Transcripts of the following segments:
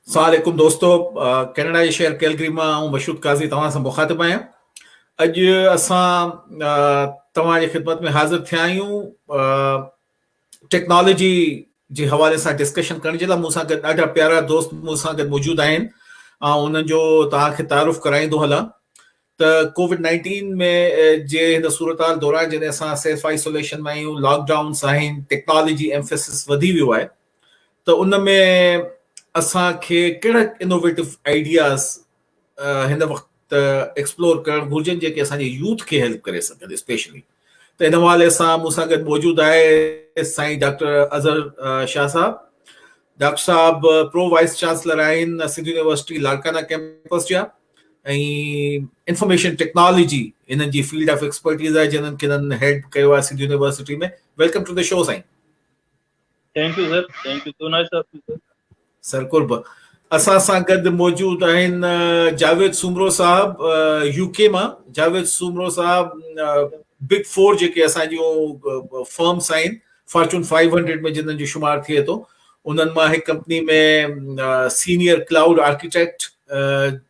السلام عليڪم دوستو ڪينيڊا جي شهر ڪيلگري مان آئون مشهود قاضي توهان سان مخاطب آهيان اڄ اسان توهان جي خدمت ۾ حاضر ٿيا آهيون ٽيڪنالاجي جي حوالي سان ڊسڪشن ڪرڻ جي لاء مون سان گڏ ڏاڍا پيارا دوست مون سان گڏ موجود آهن آئون انهن جو توهان کي تعارف ڪرائيندو هلان ته ڪووڊ نائنٽين ۾ جي هن صورتحال دوران جڏهن اسان سيلف آئسوليشن ۾ آهيون لاڪ ڊائونس آهن ٽيڪنالاجي ايمفيسس وڌي ويو آهي ته ان ۾ اسان کي ڪهڙا انوويٽو آئيڊياز هن وقت ايڪسپلور ڪرڻ گهرجن جيڪي اسان جي يوٿ کي هيلپ ڪري سگهن اسپيشلي ته ان حوالي سان مون سان گڏ موجود آهي سائين ڊاڪٽر اظهر شاهه صاحب ڊاڪٽر صاحب پرو وائس چانسلر آهن سنڌ يونيورسٽي لاڙڪانا ڪيمپس جا ۽ انفارميشن ٽيڪنالاجي انهن جي فيلڊ آف ايڪسپرٽيز آهي جنهن کي انهن هيڊ ڪيو آهي Sindh University ۾ welcome to the show سائين thank you sir thank you so nice of you sir sir قرب اسان سان گڏ موجود آهن جاويد سومرو صاحب يو ڪي مان جاويد سومرو صاحب بگ فور جيڪي اسان جون فرمس آهن فارچون 500 ۾ جنن جو شمار ٿئي ٿو انهن مان هڪ company ۾ senior cloud architect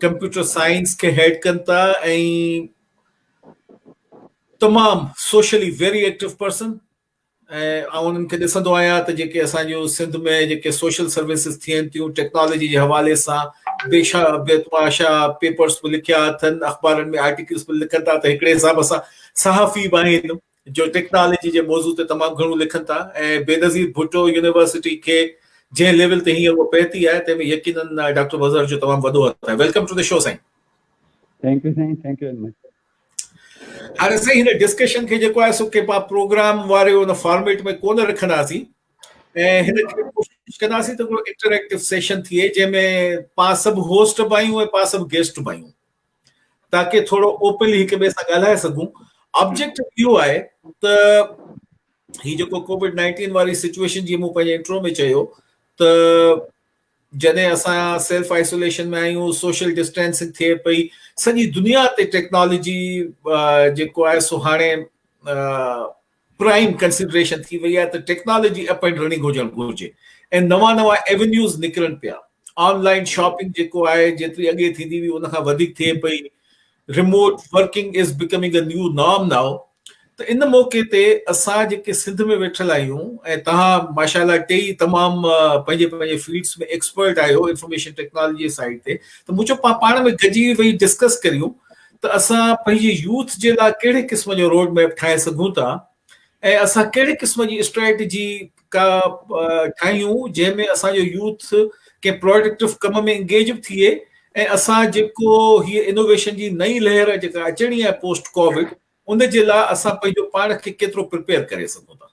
computer science کي هيڊ ڪن ٿا ۽ تمام سوشلي ويري ايڪٽو پرسن آئون انهن کي ڏسندو آهيان ته جيڪي اسان جو سنڌ ۾ جيڪي سوشل سروسز ٿين ٿيون ٽيڪنالاجي جي حوالي سان بي شا بي تماشا پيپرس به لکيا اٿن اخبارن ۾ آرٽيڪلس به لکن ٿا ته هڪڙي حساب سان صحافي به آهن جو ٽيڪنالاجي جي موضوع تي تمام گهڻو لکن ٿا ۽ بينظير ڀٽو يونيورسٽي کي جنهن ليول تي هينئر اها پهتي آهي تنهن ۾ يقينن ڊاڪٽر مظهر جو تمام وڏو هٿ آهي ويلڪم ٽو دي شو سائين ٿينڪ يو سائين ٿينڪ يو ويري مچ هاڻي سائين هن ڊسڪشن کي جيڪو آهي سو ڪي پا پروگرام واري ان فارميٽ ۾ ڪونه رکنداسين ۽ هن کي ڪوشش ڪنداسين ته ڪو انٽريڪٽو سيشن ٿئي جنهن ۾ پا سڀ هوسٽ به آهيون ۽ پا سڀ گيسٽ به آهيون تاڪي ٿورو اوپنلي هڪ ٻئي سان ڳالهائي سگهون آبجيڪٽ اهو آهي ته هي جيڪو ڪوويڊ نائنٽين واري سچويشن جي مون پنهنجي انٽرو ۾ چيو ته جڏهن اسان سيلف آئسوليشن ۾ آهيون سوشل ڊسٽينسنگ ٿئي پئي سڄي دنيا تي ٽيڪنالاجي جيڪو آهي سو هاڻي پرائم ڪنسڊريشن ٿي وئي آهي ته ٽيڪنالاجي اپ اينڊ رننگ هجڻ گهرجي ۽ نوان نوان ايونيوز نڪرن پيا آن لائين شاپنگ جيڪو آهي جيتري اڳي ٿيندي هئي ان کان وڌيڪ ٿئي پئي remote working is becoming a new norm now ته ان موقعي تي اسان جيڪي سنڌ ۾ ويٺل آهيون ۽ تهان ماشاءالله ٽيئي تمام پنهنجي پنهنجي فيلڊس ۾ ايڪسپرٽ آهيو انفارميشن ٽيڪنالاجي سائيڊ تي ته مون چيو پاڻ ۾ گڏجي ويهي ڊسڪس ڪريون ته اسان پنهنجي يوٿ جي لاء ڪهڙي قسم جو روڊ ميپ ٺاهي سگهون ٿا ۽ اسان ڪهڙي قسم جي اسٽريٽجي ڪا ٺاهيون جنهن ۾ اسان جو يوٿ ڪنهن پروڊڪٽو ڪم ۾ انگيج به ٿئي ۽ اسان جيڪو هي انوويشن جي نئين لهر جيڪا اچڻي آهي پوسٽ ڪووڊ ان جي لاء اسان پنهنجو پاڻ کي ڪيترو پريپيئر ڪري سگهون ٿا.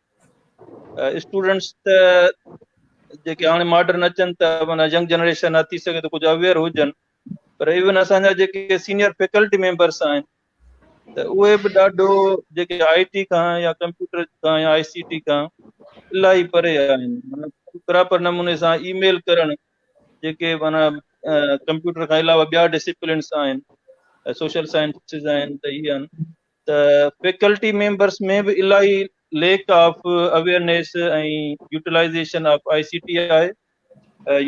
اسٽوڊنٽس ته جيڪي هاڻي ماڊرن اچن ته مانا ينگ جنريشن آ ٿي سگهي ته ڪجهه اويئر هجن پر ايون اسان جا جيڪي سينيئر فيڪلٽي ميمبرس آهن ته اهي به ڏاڍو جيڪي آئي ٽي کان يا ڪمپيوٽر کان يا آئي سي ٽي کان الاهي پري آهن پراپر نموني سان اي ميل ڪرڻ جيڪي مانا ڪمپيوٽر کان علاوه ٻيا ڊسپلنس آهن سوشل سائنسز آهن ته اي آهن ته فيڪلٽي ميمبرس ۾ به الاهي lack of awareness ۽ utilization of I C T آهي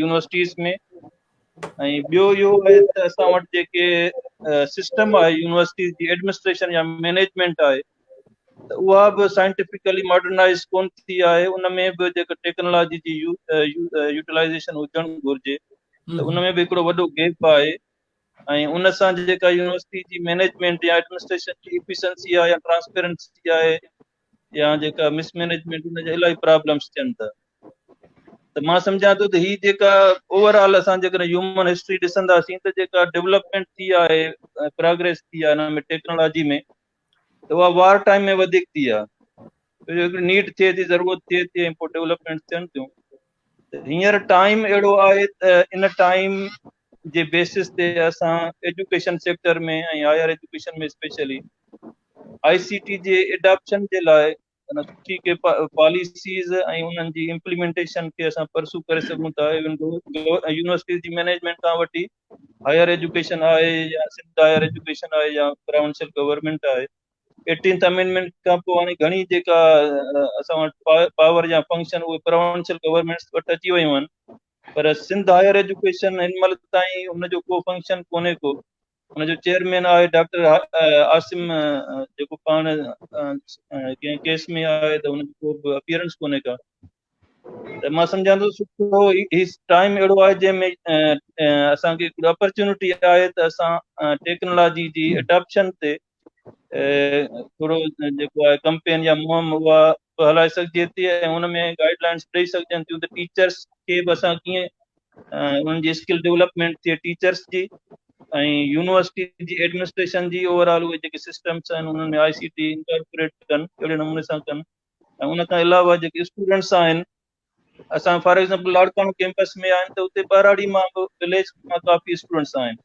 يونيورسٽيز ۾ ۽ ٻيو اهو آهي ته اسان وٽ جيڪي سسٽم آهي يونيورسٽيز جي ايڊمنسٽريشن يا مينيجمنٽ آهي ته اها به سائنٽيفڪلي ماڊرنائز ڪون ٿي آهي ان ۾ به جيڪا ٽيڪنالاجي جي يوٽيلائيزيشن هجڻ گهرجي ته ان ۾ به هڪڙو وڏو گيپ آهي ۽ ان سان جيڪا يونيورسٽي جي مينيجمينٽ يا ايڊمنسٽريشن جي ايفيشنسي آهي يا ٽرانسپيرنسي آهي يا جيڪا مس مينيجمينٽ ان جا الائي پرابلمس ٿين ٿا ته مان سمجهان ٿو ته هي جيڪا اوور آل اسان جيڪڏهن هيومن هسٽري ڏسنداسين ته جيڪا ڊيولپمينٽ ٿي آهي پروگريس ٿي آهي هن ۾ ٽيڪنالاجي ۾ ته اها وار ٽائم ۾ وڌيڪ ٿي آهي هڪڙي نيڊ ٿئي ٿي ضرورت ٿئي ٿي ۽ پوء ڊيولپمينٽ ٿين ٿيون هينئر ٽائيم اهڙو آهي ته ان ٽائيم جي بيسز تي اسان education sector ۾ ۽ higher education ۾ specially I C T جي ايڊاپشن جي لاء ان سٺي ڪي پاليسيز ۽ انهن جي امپليمينٽيشن کي اسان پرسو ڪري سگهون ٿا ايون يونيورسٽيز جي مئنيجمينٽ کان وٺي هائير ايجوڪيشن آهي يا سنڌ هائير ايجوڪيشن آهي يا پراونشل گورنمنٽ آهي ايٽينٿ امينمينٽ کان پوء هاڻي گهڻي جيڪا اسان وٽ پاور يا فنڪشن اهي پراونشل گورنمنٽس وٽ اچي ويون آهن پر سنڌ هائير ايجوڪيشن هن مهل تائين ان جو ڪو فنڪشن ڪونهي ڪو ان جو چيئرمين آهي ڊاڪٽر عاصم جيڪو پاڻ ڪنهن ڪيس ۾ آهي ته ان جو ڪو به اپيئرنس ڪونهي ڪا ته مان سمجھان ٿو سٺو هي ٽائيم اهڙو آهي جنهن ۾ اسانکي هڪڙي اپرچونٽي آهي ته اسان ٽيڪنالاجي جي اڊاپشن تي ٿورو جيڪو آهي ڪمپين يا مهم اها به هلائي سگهجي ٿي ۽ ان ۾ گائيڊ لائنس به ڏئي سگهجن ٿيون ته ٽيچرس کي به اسان ڪيئن انهن جي اسڪل ڊيولپمينٽ ٿئي ٽيچرس جي ۽ يونيورسٽي جي ايڊمنسٽريشن جي اوور آل اهي جيڪي سسٽمس آهن انهن ۾ آء سي ٽي انڪارپوريٽ ڪن اهڙي نموني سان ڪن ۽ ان کان علاوه جيڪي اسٽوڊنٽس آهن اسان فار ايگزامپل لاڙڪاڻو ڪيمپس ۾ آهن ته اتي ٻهراڙي مان به ويليج مان ڪافي اسٽوڊنٽس آهن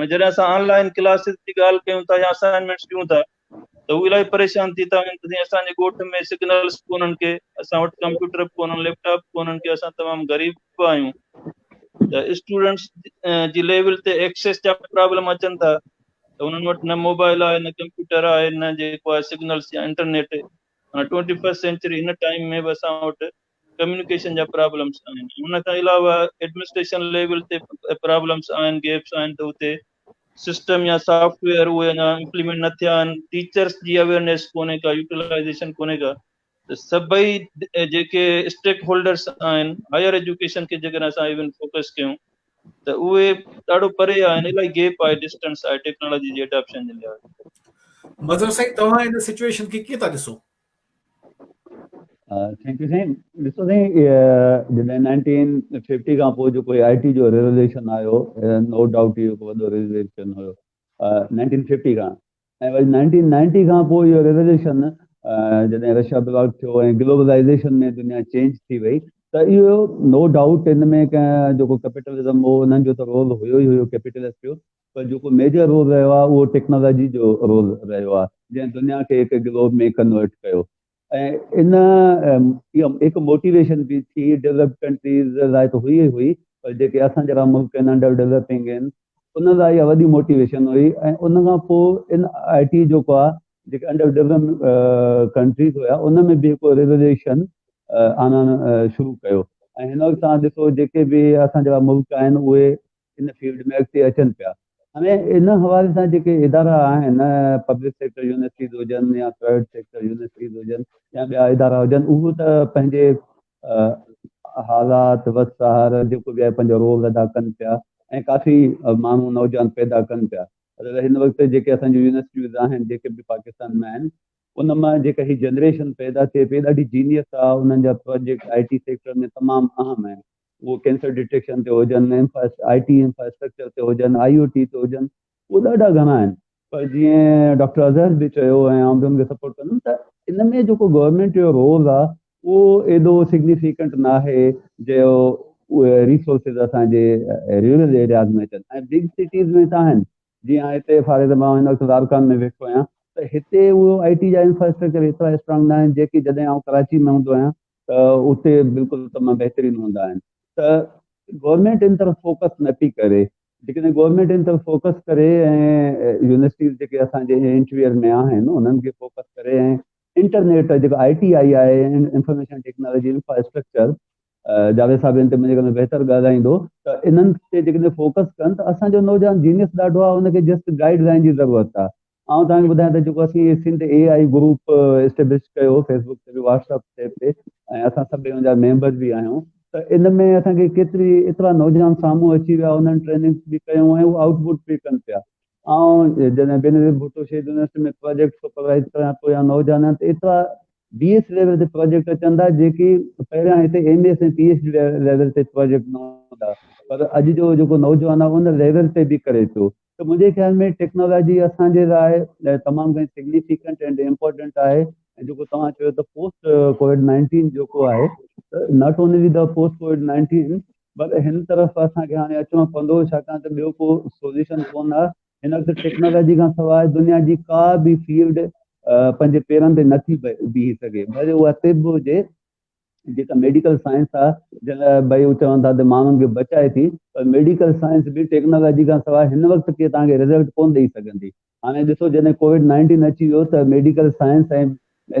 ۽ جڏهن اسان آن لائن ڪلاسز جي ڳالهه ڪيون ٿا يا اسائنمنٽس ڏيون ٿا ته هو الاهي پريشان ٿي ٿا وڃن ته سائين اسان جي ڳوٺ ۾ سگنلز به ڪونهن ڪي اسان وٽ ڪمپيوٽر به ڪونهن ليپ ٽاپ به ڪونهن ڪي اسان تمام غريب به آهيون ته اسٽوڊنٽس جي ليول تي ايڪسيس جا پرابلم اچن ٿا ته انهن وٽ نه موبائل آهي نه ڪمپيوٽر آهي نه جيڪو آهي سگنلز يا انٽرنيٽ ٽوئنٽي فرسٽ سينچري هن ٽائيم ۾ به اسان وٽ ڪميونيڪيشن جا پرابلمس آهن ان کان علاوه ايڊمنسٽريشن ليول تي پرابلمس آهن گيپس آهن ته اتي سسٽم يا سافٽ ويئر اهي اڃا امپليمنٽ نه ٿيا آهن ٽيچرس جي اويئرنيس ڪونهي ڪا يوٽيلائزيشن ڪونهي ڪا ته سڀئي جيڪي اسٽيڪ هولڊرس آهن هائر ايجوڪيشن کي جيڪڏهن اسان ايون فوڪس ڪيون ته اهي ڏاڍو پري آهن الائي گيپ آهي ڊسٽنس آهي ٽيڪنالاجي جي اڊاپشن جي لحاظ مظهر سائين توهان ان سچويشن کي ڪيئن ٿا ڏسو ٿينڪ يو سائين ڏسو سائين جڏهن نائنٽين ففٽي کان پوء جيڪو آء ٽي جو ريوليشن آيو نو ڊائوٽ اهو هڪ وڏو ريوليشن هيو نائنٽين ففٽي کان ۽ وري نائنٽين نائنٽي کان پوء اهو ريوليوشن جڏهن رشا بلاڪ ٿيو ۽ گلوبلائيزيشن ۾ دنيا چينج ٿي وئي ته اهو نو ڊائوٽ ان ۾ ڪنهن جيڪو ڪيپيٽلزم هو انهن جو ته رول هيو ئي هيو ڪيپيٽلسٽ جو پر جيڪو ميجر رول رهيو آهي اهو ٽيڪنالاجي جو رول رهيو آهي جنهن دنيا کي هڪ گلوب ۾ ڪنورٽ ڪيو ۽ ان اها هڪ موٽيويشن به ٿي ڊيولپڊ ڪنٽريز لاء ته هئي ئي هئي پر جيڪي اسان جهڙا ملڪ آهن انڊر ڊيولپنگ آهن ان لاء اها وڏي موٽيويشن هئي ۽ ان کان پوء ان آء ٽي جيڪو آهي جيڪي انڊر ڊيولپنگ ڪنٽريز هيا ان ۾ به هڪ ريوليوشن آڻڻ شروع ڪيو ۽ هن وقت تان ڏسو جيڪي به اسان جهڙا ملڪ آهن اهي ان فيلڊ ۾ اڳتي اچن پيا. هاڻي ان حوالي سان جيڪي ادارا آهن پبلڪ سيڪٽر يونيورسٽيز هجن يا پرائيويٽ سيڪٽر يونيورسٽيز هجن يا ٻيا ادارا هجن اهو ته پنهنجي حالات وس سهار جيڪو به آهي پنهنجو رول ادا ڪن پيا ۽ ڪافي ماڻهو نوجوان پيدا ڪن پيا پر هن وقت جيڪي اسان جون يونيورسٽيز آهن جيڪي به پاڪستان ۾ آهن ان مان جيڪا هي جنريشن پيدا ٿئي پئي ڏاڍي جينيس آهي انهن جا پروجيڪٽ آء ٽي سيڪٽر ۾ تمام اهم آهن اهي ڪينسر ڊٽيڪشن تي هجن، آء ٽي انفراسٽرڪچر تي هجن، آء او ٽي تي هجن، اهي ڏاڍا گهڻا آهن. پر جيئن ڊاڪٽر اظهر به چيو ۽ آئون به ان کي سپورٽ ڪندم ته ان ۾ جيڪو گورنمينٽ جو رول آهي اهو ايڏو سگنيفيڪنٽ ناهي جو اهي ريسورسز اسان جي رورل ايرياز ۾ اچن ۽ بگ سٽيز ۾ ته آهن جيئن آء هتي فار ايگزامپل آئون هن وقت لاڙڪاڻ ۾ ويٺو آهيان ته هتي اهو آء ٽي جا انفراسٽرڪچر ايترا اسٽرانگ ناهن جيڪي جڏهن آئون ڪراچي ۾ هوندو آهيان ته اتي بلڪل تمام بهترين هوندا آهن ته گورنمينٽ ان طرف فوڪس نه پي ڪري جيڪڏهن گورنمينٽ ان طرف فوڪس ڪري ۽ يونيورسٽيز جيڪي اسان جي انٽرويئر ۾ آهن انهن کي فوڪس ڪري ۽ انٽرنيٽ جيڪو آئي ٽي آئي آهي انفارميشن ٽيڪنالاجي انفراسٽرڪچر جاويد صاحب ان تي مجھے بهتر ڳالهائيندو ته انهن تي جيڪڏهن فوڪس ڪن ته اسانجو نوجوان جينيس ڏاڍو آهي ان کي جسٽ گائيڊ لائن جي ضرورت آهي آئون توهان کي ٻڌايان ته جيڪو اسين هي Sindh A I group establish ڪيو فيسبوڪ تي به واٽس اپ تي به ۽ اسان سڀ ان جا ميمبر به آهيون ته ان ۾ اسان کي ڪيتري ايترا نوجوان سامهون اچي ويا انهن ٽريننگس به ڪيون ۽ هو آئوٽ پٽ به ڪن پيا آئون جڏهن بينظير ڀٽو شهيد يونيورسٽي ۾ پروجيڪٽ سپروائز ڪريان ٿو يا نوجوانان ته ايترا بي ايس ليول تي پروجيڪٽ اچن ٿا جيڪي پهريان هتي M S ۽ P H D level تي پروجيڪٽ نه هوندا پر اڄ جو جيڪو نوجوان آهي ان ليول تي به ڪري ٿو ته منهنجي خيال ۾ ٽيڪنالاجي اسان جي لاء تمام گهڻي سگنيفڪنٽ ۽ امپورٽنٽ آهي ۽ جيڪو توهان چيو ته پوسٽ ڪووڊ نائنٽين جيڪو آهي ته not only the post COVID nineteen پر هن طرف اسان کي هاڻي اچڻو پوندو ڇاڪاڻ ته ٻيو ڪو سوليوشن ڪونه آهي هن وقت ٽيڪنالاجي کان سواء دنيا جي ڪا به فيلڊ پنهنجي پيرن تي نٿي بيهي سگهي ڀلي اها طب هجي جيڪا ميڊيڪل سائنس آ جنهن لاء ڀائي چون ٿا ته ماڻهن کي بچائي ٿي پر ميڊيڪل سائنس به ٽيڪنالاجي کان سواء هن وقت ڪي توهان کي رزلٽ ڪونه ڏئي سگهندي هاڻي ڏسو جڏهن ڪووڊ نائنٽين اچي ويو ته ميڊيڪل سائنس ۽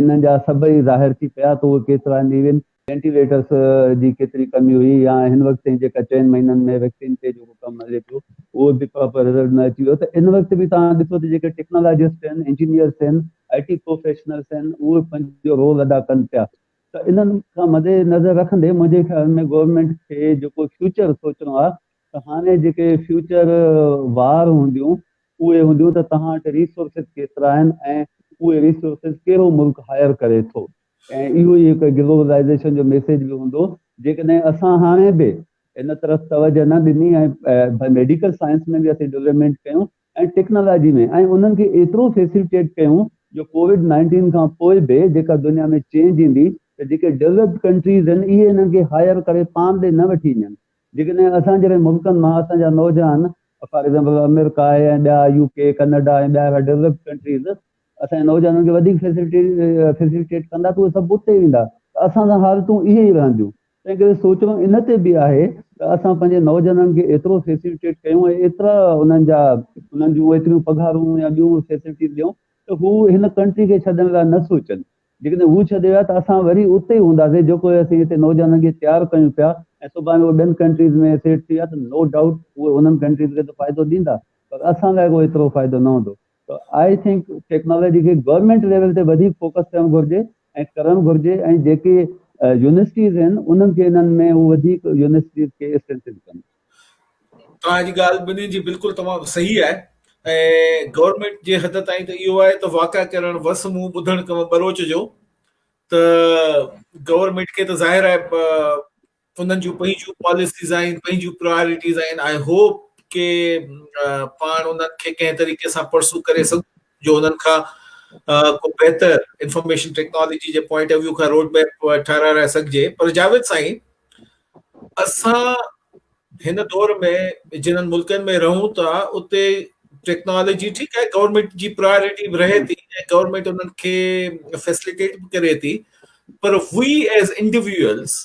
انهن جا سبب ظاهر ٿي پيا ته اهي ڪيترا نيون وينٽيليٽرس جي ڪيتري ڪمي هئي يا هن وقت تائين جيڪا چئن مهينن ۾ ويڪسين تي جيڪو ڪم هلي پيو اهو به پراپر رزلٽ نه اچي ويو ته ان وقت به توهان ڏسو ته جيڪي ٽيڪنالاجسٽ آهن انجنيئرس آهن آء ٽي پروفيشنلز آهن اهي پنهنجو رول ادا ڪن پيا ته انهن کان مد نظر رکندي منهنجي خيال ۾ گورنمينٽ کي جيڪو فيوچر سوچڻو آهي ته هاڻي جيڪي فيوچر وار هونديون اهي هونديون ته توهان وٽ ريسورسز ڪيترا آهن ۽ اهي ريسورسز ڪهڙو ملڪ هائر ڪري ٿو ۽ اهو ئي هڪ گلوبلائيزيشن جو ميسيج به هوندو جيڪڏهن اسان هاڻي به ان طرف توجه نه ڏني ۽ ميڊيڪل سائنس ۾ به اسين ڊولپمينٽ ڪيون ۽ ٽيڪنالاجي ۾ ۽ انهن کي ايترو فيسيلٽيٽ ڪيون جو ڪووڊ نائنٽين کان پوء به جيڪا دنيا ۾ چينج ايندي ته جيڪي ڊولپڊ ڪنٽريز هن اهي انهن کي هائير ڪري پاڻ ڏي نه وٺي وڃن جيڪڏهن اسان جهڙن ملڪن مان اسان جا نوجوان فار ايگزامپل آمريڪا آهي ۽ ٻيا يو ڪي ڪئناڊا ۽ ٻيا اهڙا ڊولپڊ ڪنٽريز اسان جي نوجوانن کي وڌيڪ فيسيلٽيٽ ڪندا ته اهي سڀ اتي ويندا ته اسان سان حالتون اهي ئي رهنديون تنهنڪري سوچڻو ان تي به آهي ته اسان پنهنجي نوجوانن کي ايترو فيسيلٽيٽ ڪيون ۽ ايترا انهن جا انهن جون ايتريون پگهارون يا ٻيون فيسيلٽيز ڏيون ته هو هن ڪنٽري کي ڇڏڻ لاء نه سوچن. جيڪڏهن هو ڇڏي ويا ته اسان وري اتي ئي هونداسين جيڪو اسين هتي نوجوانن کي تيار ڪيون پيا ۽ سڀاڻي هو ٻين ڪنٽريز ۾ سيٽ ٿي ويا ته نو ڊائوٽ اهي انهن ڪنٽريز کي ته فائدو ڏيندا پر اسان لاء ڪو ايترو فائدو نه هوندو. ته آء ٿنڪ ٽيڪنالاجي کي گورنمينٽ ليول تي وڌيڪ فوڪس ڪرڻ گهرجي ۽ ڪرڻ گهرجي ۽ جيڪي يونيورسٽيز آهن انهن کي انهن ۾ هو وڌيڪ يونيورسٽيز کي اسٽرينٿن ڪن. توهان جي ڳالهه ٻنهي جي بلڪل تمام صحيح آهي ۽ گورنمينٽ جي حد تائين ته اهو آهي ته واڪا ڪرڻ وس منهن ٻڌڻ ڪم ٻروچ جو ته گورنمينٽ کي ته ظاهر آهي انهن جون پنهنجون پاليسيز آهن پنهنجون پرائرٽيز آهن آء هوپ ڪي پاڻ انهن کي ڪنهن طريقي سان پرسو ڪري سگهون جو انهن کان ڪو بهتر انفارميشن ٽيڪنالاجي جي پوائنٽ آف ويو کان روڊ ميپ ٺهرائي سگهجي پر جاويد سائين اسان هن دور ۾ جنن ملڪن ۾ رهون ٿا اتي ٽيڪنالاجي ٺيڪ آهي گورنمنٽ جي پرائرٽي به رهي ٿي ۽ گورنمنٽ انهن کي فيسليٽيٽ به ڪري ٿي پر وي ايز انڊيويوئلز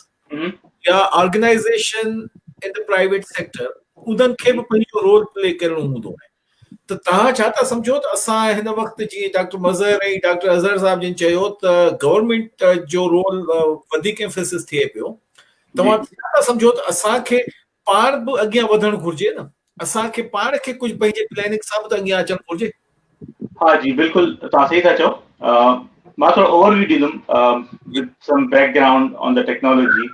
يا organization in the private sector انهن کي به پنهنجو رول پلي ڪرڻو هوندو آهي ته توهان ڇا ٿا سمجهو ته اسان هن وقت جي ڊاڪٽر مظهر ۽ ڊاڪٽر اظهر صاحب جن چيو ته گورنمنٽ جو رول وڌيڪ امفيسس ٿئي پيو توهان ڇا ٿا سمجهو ته اسان کي پاڻ به اڳيان وڌڻ گهرجي نه اسان کي پاڻ کي ڪجهه پنهنجي پلاننگ سان به ته اڳيان اچڻ گهرجي. ها جي بلڪل توهان صحيح ٿا چئو مان ٿورو اوور ويو ڏيندم with some background on the technology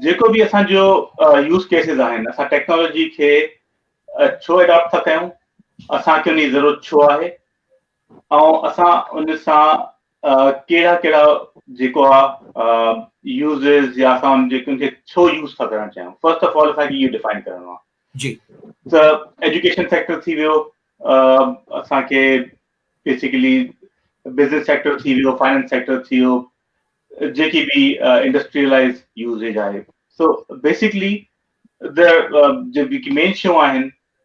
جيڪو به اسان جو يوز ڪيسز آهن اسان ٽيڪنالاجي کي ڇو اڊاپٽ ٿا ڪيون اسان کي ان جي ضرورت ڇو آهي ۽ اسان ان سان ڪهڙا ڪهڙا جيڪو آ يوزز يا اسان ان جي ڪن کي ڇو يوز ٿا ڪرڻ چاهيون فرسٽ آف آل اسان کي اهو ڊيفائن ڪرڻو آ جي ته ايجوڪيشن سيڪٽر ٿي ويو اسان کي بيسيڪلي بزنس سيڪٽر ٿي ويو فائنانس سيڪٽر ٿي ويو جيڪي به انڊسٽريلائز يوزيج آهي سو بيسيڪلي د جيڪي مين شيون آهن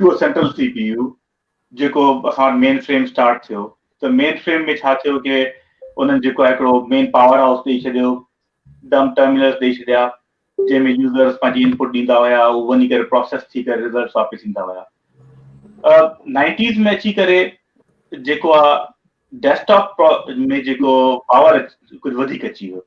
to central C P U جيڪو اسان وٽ مين فريم اسٽارٽ ٿيو ته مين فريم ۾ ڇا ٿيو ڪي انهن جيڪو آهي هڪڙو مين پاور هائوس ڏئي ڇڏيو ڊم ٽرمينلز ڏئي ڇڏيا جنهن ۾ يوزرز پنهنجي انپوٽ ڏيندا هيا هو وڃي ڪري پروسيس ٿي ڪري رزلٽس واپس ايندا هيا نائنٽيز ۾ اچي ڪري جيڪو آهي ڊيسڪٽاپ ۾ جيڪو پاور ڪجهه وڌيڪ اچي ويو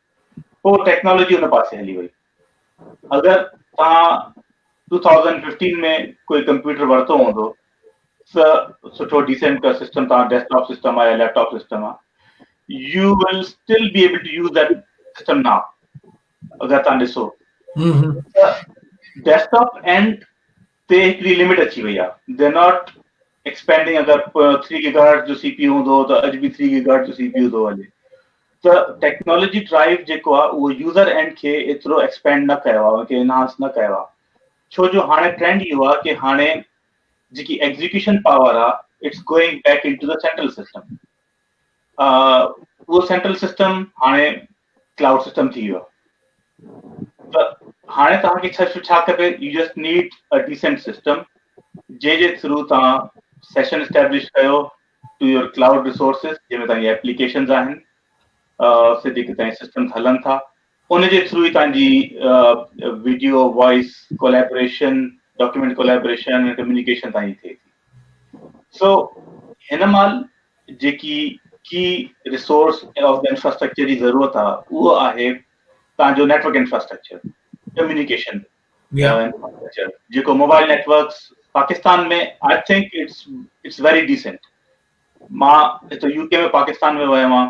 پوء ٽيڪنالاجي ان پاسي هلي وئي. اگر توهان ٽو ٿائوزنڊ ففٽين ۾ ڪوئي ڪمپيوٽر ورتو هوندو ته سٺو ڊيسنٽ ڪا سسٽم توهان ڊيسڪٽاپ سسٽم آهي يا ليپ ٽاپ سسٽم آهي you will still be able to use that system no اگر تان ڏسو ڏيسڪٽاپ اينڊ تي هڪڙي لمٽ اچي وئي آهي دي آر ناٽ ايڪسپينڊنگ اگر ٿري گيگا هرٽز جو سي پي يو هوندو ته اڄ به ٿري گيگا هرٽز جو سي پي يو ٿو هلي ته ٽيڪنالاجي ڊرائيو جيڪو آهي اهو يوزر اينڊ کي ايترو ايڪسپينڊ نه ڪيو آهي ان کي انهانس نه ڪيو آهي ڇو جو هاڻي ٽرينڊ اهو آهي ڪي هاڻي جيڪي ايگزيڪيوشن پاور آهي it's going back into the central system اهو سينٽرل سسٽم هاڻي ڪلائوڊ سسٽم ٿي ويو ته هاڻي توهان کي ڇا ڇا کپي you just need a decent system جنهن جي ٿرو توهان سيشن اسٽيبلش ڪيو ٽو يور ڪلائوڊ ريسورسز جنهن ۾ توهان جي ايپليڪيشنز آهن سڌي ڪتائين سسٽمز هلن ٿا ان جي ٿرو ئي توهان جي video voice collaboration document collaboration ۽ communication توهان جي ٿئي ٿي سو هن مال جيڪي ڪي ريسورس آف دي انفراسٽرڪچر جي ضرورت آ اهو آهي توهان جو نيٽورڪ انفراسٽرڪچر ڪميونيڪيشن جيڪو mobile networks Pakistan ۾ I think it's it's very decent مان هتي يو ڪي ۾ پاڪستان ۾ ويو آهيان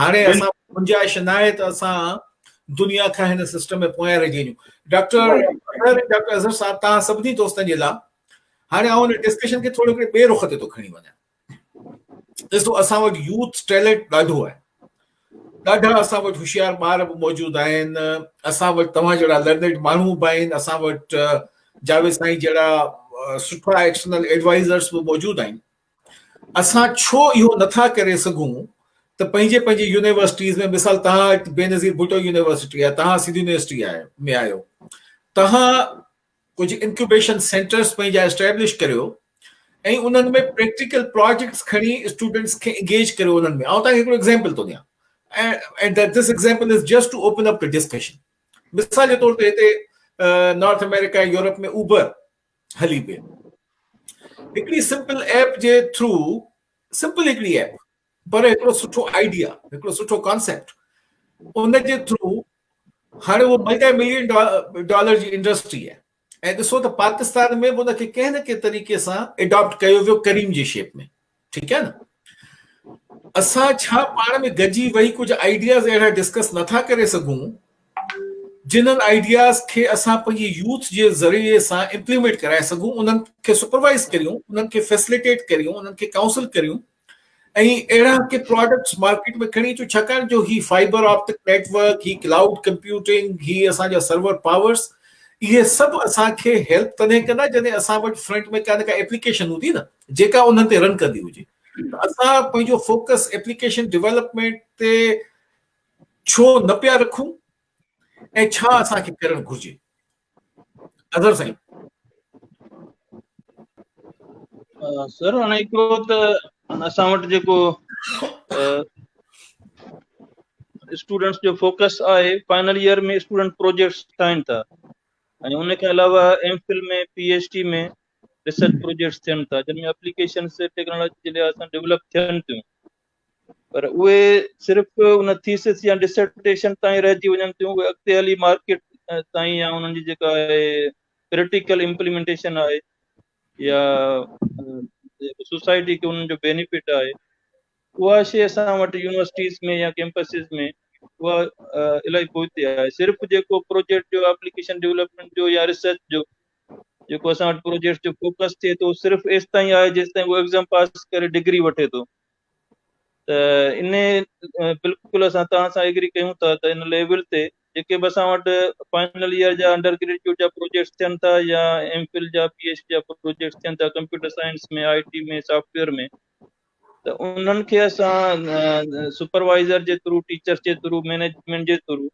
هاڻي اسان گنجائش ناهي ته اسان دنيا کان هن سسٽم ۾ پويان رهجي وڃون ڊاڪٽر ڊاڪٽر اظهر صاحب تان سڀني دوستن جي لا هاڻي آئون هن ڊسڪشن کي ٿورو ڪري ٻي رخ تي ٿو کڻي وڃان ڏسو اسان وٽ يوٿ ٽيلنٽ ڏاڍو آهي ڏاڍا اسان وٽ هوشيار ٻار به موجود آهن اسان وٽ توهان جهڙا لرنيڊ ماڻهو به آهن اسان وٽ جاويد سائين جهڙا سٺا ايڪسٽرنل ايڊوائزرس به موجود آهن اسان ڇو اهو نٿا ڪري سگهون ته پنهنجي پنهنجي يونيورسٽيز ۾ مثال تهان بينظير ڀٽو يونيورسٽي آهي تهان سنڌ يونيورسٽي آهي ۾ آيو تهان ڪجهه انڪيوبيشن سينٽرز پنهنجا اسٽيبلش ڪريو ۽ انهن ۾ پريڪٽيڪل پروجيڪٽس کڻي اسٽوڊنٽس کي انگيج ڪريو انهن ۾ آئون تهان کي هڪڙو ايگزامپل ٿو ڏيان and that this example is just to open up the discussion. مثال جي طور تي هتي نارٿ آمريڪا يورپ ۾ اوبر هلي پئي هڪڙي سمپل ايپ جي ٿرو سمپل هڪڙي ايپ پر هڪڙو سٺو آئيڊيا هڪڙو سٺو ڪانسيپٽ ان جي ٿرو هاڻي اهو ملٽي ملين ڊالر جي انڊسٽري آهي ۽ ڏسو ته پاڪستان ۾ به ان کي ڪنهن نه ڪنهن طريقي سان اڊاپٽ ڪيو ويو ڪريم جي شيپ ۾ ٺيڪ آهي نه اسان ڇا پاڻ ۾ گڏجي ويهي ڪجهه آئيڊياز اهڙا ڊسڪس نٿا ڪري سگهون جنهن آئيڊياز کي اسان پنهنجي يوٿ جي ذريعي سان امپليمينٽ ڪرائي سگهون انهن کي سپروائز ڪريون انهن کي فيسليٽيٽ ڪريون انهن کي ڪائونسل ڪريون ۽ اهڙا ڪي پروڊڪٽس مارڪيٽ ۾ کڻي اچو ڇاڪاڻ جو هي فائبر آپٽڪ نيٽورڪ هي ڪلائوڊ ڪمپيوٽنگ هي اسان جا سرور پاورس اهي سڀ اسان کي هيلپ تڏهن ڪندا جڏهن اسان وٽ فرنٽ ۾ ڪا نه ڪا ايپليڪيشن هوندي نه جيڪا انهن تي رن ڪندي هجي ته اسان پنهنجو فوڪس ايپليڪيشن ڊولپمينٽ تي ڇو نه پيا رکون ۽ ڇا اسان کي ڪرڻ گهرجي اظهر سائين سر هاڻي هڪڙو ته اسان وٽ جيڪو اسٽوڊنٽس جو فوڪس آهي فائنل ايئر ۾ اسٽوڊنٽ پروجيڪٽس ٺاهين ٿا ۽ ان کان علاوه M Phil ۾ P H D ۾ research projects ٿين ٿا جن ۾ اپليڪيشنس ٽيڪنالاجي جي لحاظ سان ڊولپ ٿين ٿيون پر اهي صرف ان ٿيسس يا ڊسرٽيشن تائين رهجي وڃن ٿيون اهي اڳتي هلي مارڪيٽ تائين يا انهن جي جيڪا آهي پريڪٽيڪل امپليمنٽيشن آهي يا سوسائٽي کي انهن جو بينيفٽ آهي اها شيء اسان وٽ يونيورسٽيز ۾ يا ڪيمپسز ۾ اها الائي پوئتي آهي صرف جيڪو پروجيڪٽ جو اپليڪيشن ڊيولپمنٽ جو يا ريسرچ جو جيڪو اسان وٽ پروجيڪٽس جو فوڪس ٿئي ٿو صرف ايستائين آهي جيستائين هو ايگزام پاس ڪري ڊگري وٺي ٿو ته ان بلڪل اسان توهان سان ايگري ڪيون ٿا ته ان ليول تي جيڪي به اسان وٽ فائنل ايئر جا انڊر گريجويٽ جا پروجيڪٽس ٿين ٿا يا ايم فل جا پي ايچ ڊي جا پروجيڪٽس ٿين ٿا computer science ۾ I T ۾ software ۾ ته انهن کي اسان سپروائزر جي ٿرو ٽيچرس جي ٿرو مينيجمنٽ جي ٿرو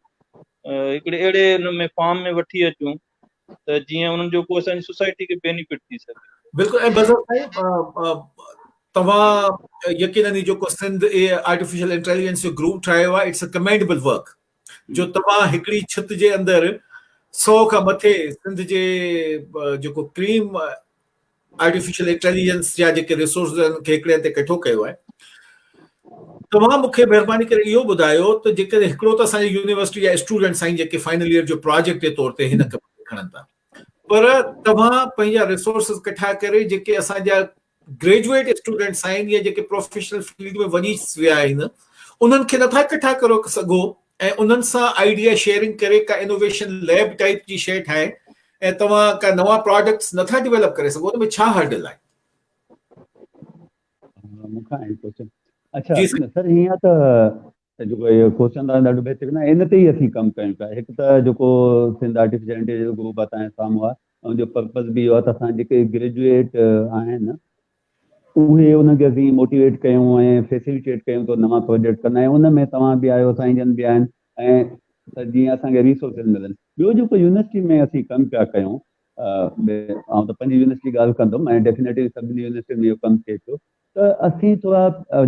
هڪڙي اهڙي ان ۾ فارم ۾ وٺي اچون ته جيئن انهن جو ڪو اسان جي سوسائٽي کي بينيفٽ ٿي سگهي. بلڪل ۽ بظر سائين توهان يقينن هي جيڪو سنڌ اي آرٽيفيشل انٽيليجنس جو گروپ ٺاهيو آهي اٽس ا ڪمينڊبل ورڪ جو توهان هڪڙي ڇت جي اندر 100 کان مٿي سنڌ جي جيڪو ڪريم آرٽيفيشل انٽيليجنس جا جيڪي ريسورسز ان کي هڪڙي هنڌ تي ڪٺو ڪيو آهي توهان مون کي مهرباني ڪري اهو ٻڌايو ته جيڪڏهن هڪڙو ته اسان جي يونيورسٽي جا اسٽوڊنٽس آهن جيڪي فائنل ايئر جو پراجيڪٽ جي طور تي هن کي کڻن ٿا پر توهان پنهنجا ريسورسز ڪٺا ڪري جيڪي اسان جا گريجويٽ اسٽوڊنٽس آهن يا جيڪي پروفيشنل فيلڊ ۾ وڃي ويا آهن انهن کي نٿا ڪٺا ڪرو سگهو ۽ انهن سان آئيڊيا شيئرنگ ڪري ڪا انوويشن ليب ٽائيپ جي شيء ٺاهي ۽ توهان ڪا نوان پراڊڪٽس نٿا ڊيولپ ڪري سگهو ان ۾ ڇا هرڊل آهي مون کان هي ڪويشچن اچھا سر هيئن ته جيڪو اهو ڪويشچن آهي ڏاڍو بهترين آهي ان تي ئي اسين ڪم ڪيون پيا هڪ ته جيڪو سنڌ آرٽيفيشل انٽيليجنس گروپ آهي تنهنجي سامهون آهي ان جو پرپز به اهو آهي ته اسان جيڪي گريجويٽ آهن اهي انهن کي اسين موٽيويٽ ڪيون ۽ فيسليٽيٽ ڪيون ته نوان پروجيڪٽ ڪن ۽ ان ۾ توهان به آهيو سائين جن به آهن ۽ جيئن اسان کي ريسورسز ملن ٻيو جيڪو يونيورسٽي ۾ اسين ڪم پيا ڪيون آئون ته پنهنجي يونيورسٽي ڳالهه ڪندم ۽ ڊيفينيٽلي سڀني يونيورسٽين ۾ اهو ڪم ٿئي ٿو ته اسين ٿورا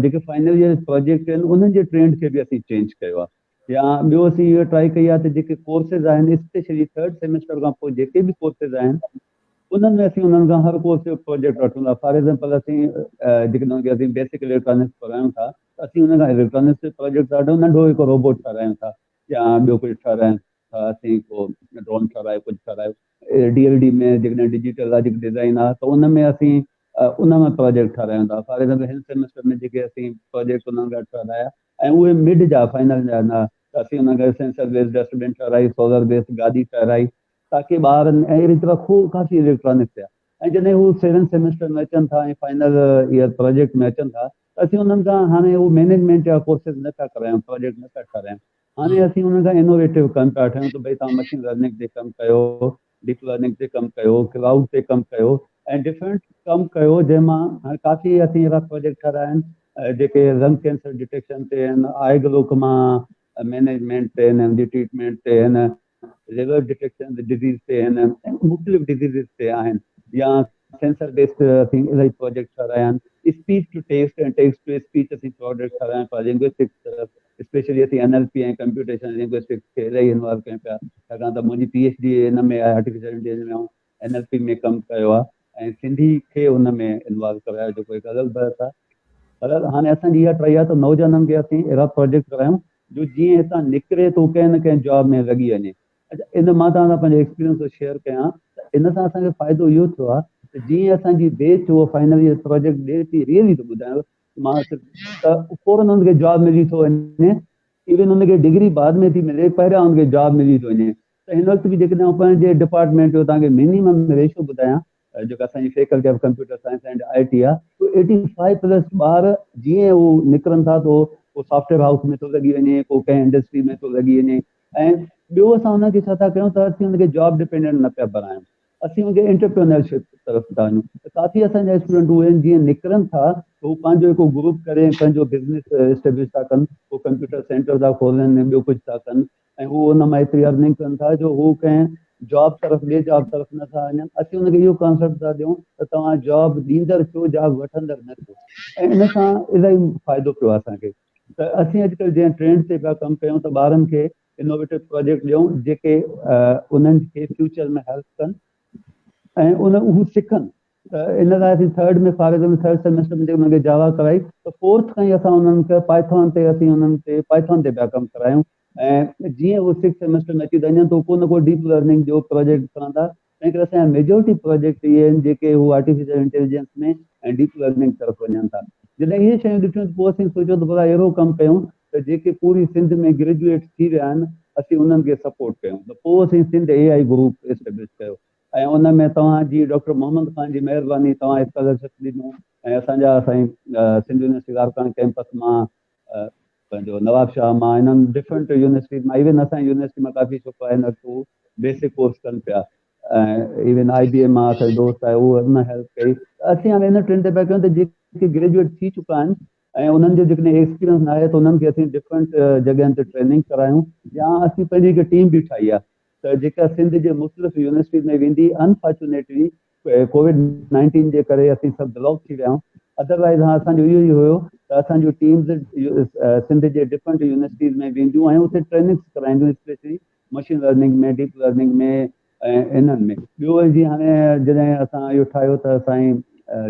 جيڪي فائنل ايئر پروجيڪٽ آهن انهن جي ٽرينڊ کي به اسين چينج ڪيو آهي يا ٻيو اسين اهو ٽرائي ڪئي آهي ته جيڪي ڪورسز آهن اسپيشلي ٿرڊ سيمسٽر کان پوء جيڪي به ڪورسز آهن انهن ۾ اسين انهن کان هر ڪورس جو پروجيڪٽ وٺون ٿا فار ايگزامپل اسين جيڪڏهن ڪي اسين بيسڪ اليڪٽرانڪس پڙهايون ٿا ته اسين ان کان اليڪٽرانڪس جو پروجيڪٽ ڏاڍو ننڍو هڪ روبوٽ ٺارايون ٿا يا ٻيو ڪجهه ٺارايون ٿا اسين ڪو ڊرون ٺارايو ڪجهه ٺارايو ڊي ايل ڊي ۾ جيڪڏهن ڊجيٽل لاجڪ ڊيزائن آهي ته ان ۾ اسين ان ۾ پروجيڪٽ ٺارايون ٿا فار ايگزامپل هن سيمسٽر ۾ جيڪي اسين پروجيڪٽ انهن لاء ٺارايا ۽ اهي مڊ جا، فائنل جا، نه ته اسين انهن کي سينسر بيس ڊسٽ بن ٺهرائي، سولر بيس گادي ٺهرائي تاڪي ٻار ۽ اهڙي طرح خوب ڪافي اليڪٽرانڪ ٿيا ۽ جڏهن هو سيون سيمسٽر ۾ اچن ٿا ۽ فائنل ايئر پراجيڪٽ ۾ اچن ٿا ته اسين انهن کان هاڻي اهو مينيجمينٽ جا ڪورسز نه ٿا ڪرايون پراجيڪٽ نه ٿا ٺهرايون هاڻي اسين انهن کان انوويٽو ڪم پيا ٺهيون ته ڀئي توهان مشين لرننگ تي ڪم ڪيو ڊيپ لرننگ تي ڪم ڪيو، ڪلائوڊ تي ڪم ڪيو ۽ ڊفرنٽ ڪم ڪيو جنهن مان هاڻي ڪافي اسين اهڙا پروجيڪٽ ٺهرايا آهن جيڪي لنگ ڪينسر ڊٽيڪشن تي آهن، آئي گلوڪما مينيجمينٽ تي آهن، جي ٽريٽمينٽ تي آهن، ليور ڊٽيڪشن ڊزيز تي آهن، مختلف ڊزيزز تي آهن يا سينسر بيسڊ اسين الاهي پروجيڪٽ ٺهرايا آهن، speech to text ۽ text to speech اسين پروجيڪٽ ٺهرايا آهن فار لنگوسٽڪس اسپيشلي اسين N L P ۽ computational linguistics کي الائي انوالو ڪيون پيا ڇاڪاڻ ته منهنجي پي ايڇ ڊي ان ۾ آهي آرٽيفيشل انٽيليجنس ۾ آئون اين ايل پي ۾ ڪم ڪيو آهي ۽ سنڌي کي ان ۾ انوالو ڪرايو جيڪو هڪ غلط بحث آهي پر هاڻي اسان جي اها ٽرائي آهي ته نوجوانن کي اسين اهڙا پروجيڪٽ ڪرايون جو جيئن هتان نڪري ته ڪنهن نه ڪنهن جاب ۾ لڳي وڃي اچا ان مان توهان سان پنهنجو ايڪسپيرينس ٿو شيئر ڪيان ته ان سان اسان کي فائدو اهو ٿيو آهي ته جيئن اسان جي بيچ هو فائنل ايئر پروجيڪٽ ڏي ٿي ريئلي ٿو ٻڌايان مان ته فورن ان کي جواب ملي ٿو وڃي ايون ان کي ڊگري بعد ۾ ٿي ملي پهريان ان کي جواب ملي ٿو وڃي ته هن وقت به جيڪڏهن آن پنهنجي ڊپارٽمينٽ جو تان کي مينيمم ريشو ٻڌايان جيڪا اسانجي faculty of computer science and I T آ تو ايٽي فائيو پلس ٻار جيئن هو نڪرن ٿا تو ڪو سافٽويئر هائوس ۾ ٿو لڳي وڃي ڪو ڪنهن انڊسٽري ۾ ٿو لڳي وڃي ۽ ٻيو اسان هن کي ڇا ٿا ڪيون ته اسين هن کي جاب ڊپينڊنٽ نه پيا بنايون اسين اڳي انٽرپرينورشپ طرف ٿا وڃون ته ڪافي اسان جا اسٽوڊنٽ اهي آهن جيئن نڪرن ٿا ته هو پنهنجو هڪ گروپ ڪري ۽ پنهنجو بزنس اسٽيبلش ٿا ڪن هو ڪمپيوٽر سينٽر ٿا کولن ۽ ٻيو ڪجهه ٿا ڪن ۽ هو ان مان ايتري ارننگ ڪن ٿا جو هو ڪنهن جاب طرف ٻي جاب طرف نٿا وڃن اسين ان کي اهو ڪانسيپٽ ٿا ڏيون ته توهان جاب ڏيندڙ ٿيو جاب وٺندڙ نه ٿيو ۽ ان سان الاهي فائدو پيو آهي اسان کي ته اسين اڄڪلهه جنهن ٽرينڊ تي پيا ڪم ڪيون ته ٻارن کي انوويٽو پراجيڪٽ ڏيون جيڪي انهن کي فيوچر ۾ هيلپ ڪن ۽ ان اهو سکن ته ان لاء اسين ٿرڊ ۾ فارغ ۾ ٿرڊ سيمسٽر ۾ جي انهن کي جاوا ڪرائي ته فورٿ کان ئي اسان انهن کي پائٿون تي اسين انهن کي پائٿون تي پيا ڪم ڪرايون ۽ جيئن اهو سڪس سيمسٽر ۾ اچي ته اڃان ته ڪو نه ڪو ڊيپ لرننگ جو پراجيڪٽ ڪرندا تنهنڪري اسان جا ميجورٽي پراجيڪٽ اهي آهن جيڪي هو آرٽيفيشل انٽيليجنس ۾ ۽ ڊيپ لرننگ طرف وڃن ٿا. جڏهن اهي شيون ڏٺيون ته پوء اسين سوچيو ته ڀلا اهڙو ڪم ڪيون ته جيڪي پوري سنڌ ۾ گريجوئيٽ ٿي ويا آهن اسين انهن کي سپورٽ ڪيون ته پوء اسين Sindh A I group establish ڪيو ۽ ان ۾ توهان جي ڊاڪٽر محمد خان جي مهرباني توهان اسڪالرشپ ڏنو ۽ اسان جا سائين سنڌ يونيورسٽي لاڙڪاڻي ڪيمپس مان پنهنجو نواب شاهه مان انهن ڊفرنٽ يونيورسٽيز مان ايون اسان جي يونيورسٽي مان ڪافي ڇوڪرا هن وقت هو بيسڪ ڪورس ڪن پيا ۽ ايون آئي بي ايم مان اسان دوست آهي هو ان هيلپ ڪئي اسين هاڻي ان ٽرين تي پيا ڪيون ته جيڪي گريجويٽ ٿي چڪا آهن ۽ انهن جو جيڪڏهن ايڪسپيرينس نه آهي ته انهن کي اسين ڊفرنٽ جڳهن تي ٽريننگ ڪرايون يا اسين پنهنجي هڪ ٽيم به ٺاهي آهي ته جيڪا سنڌ جي مختلف يونيورسٽيز ۾ ويندي انفارچونيٽلي ڪووڊ نائنٽين جي ڪري اسين سڀ بلاڪ ٿي ويا آهيون ادر وائز ها اسان جو اهو ئي هيو ته اسان جون ٽيمز سنڌ جي ڊفرنٽ يونيورسٽيز ۾ وينديون ۽ اتي ٽريننگس ڪرائينديون specially machine learning ۾ deep learning ۾ ۽ انهن ۾ ٻيو وري جيئن هاڻي جڏهن اسان اهو ٺاهيو ته سائين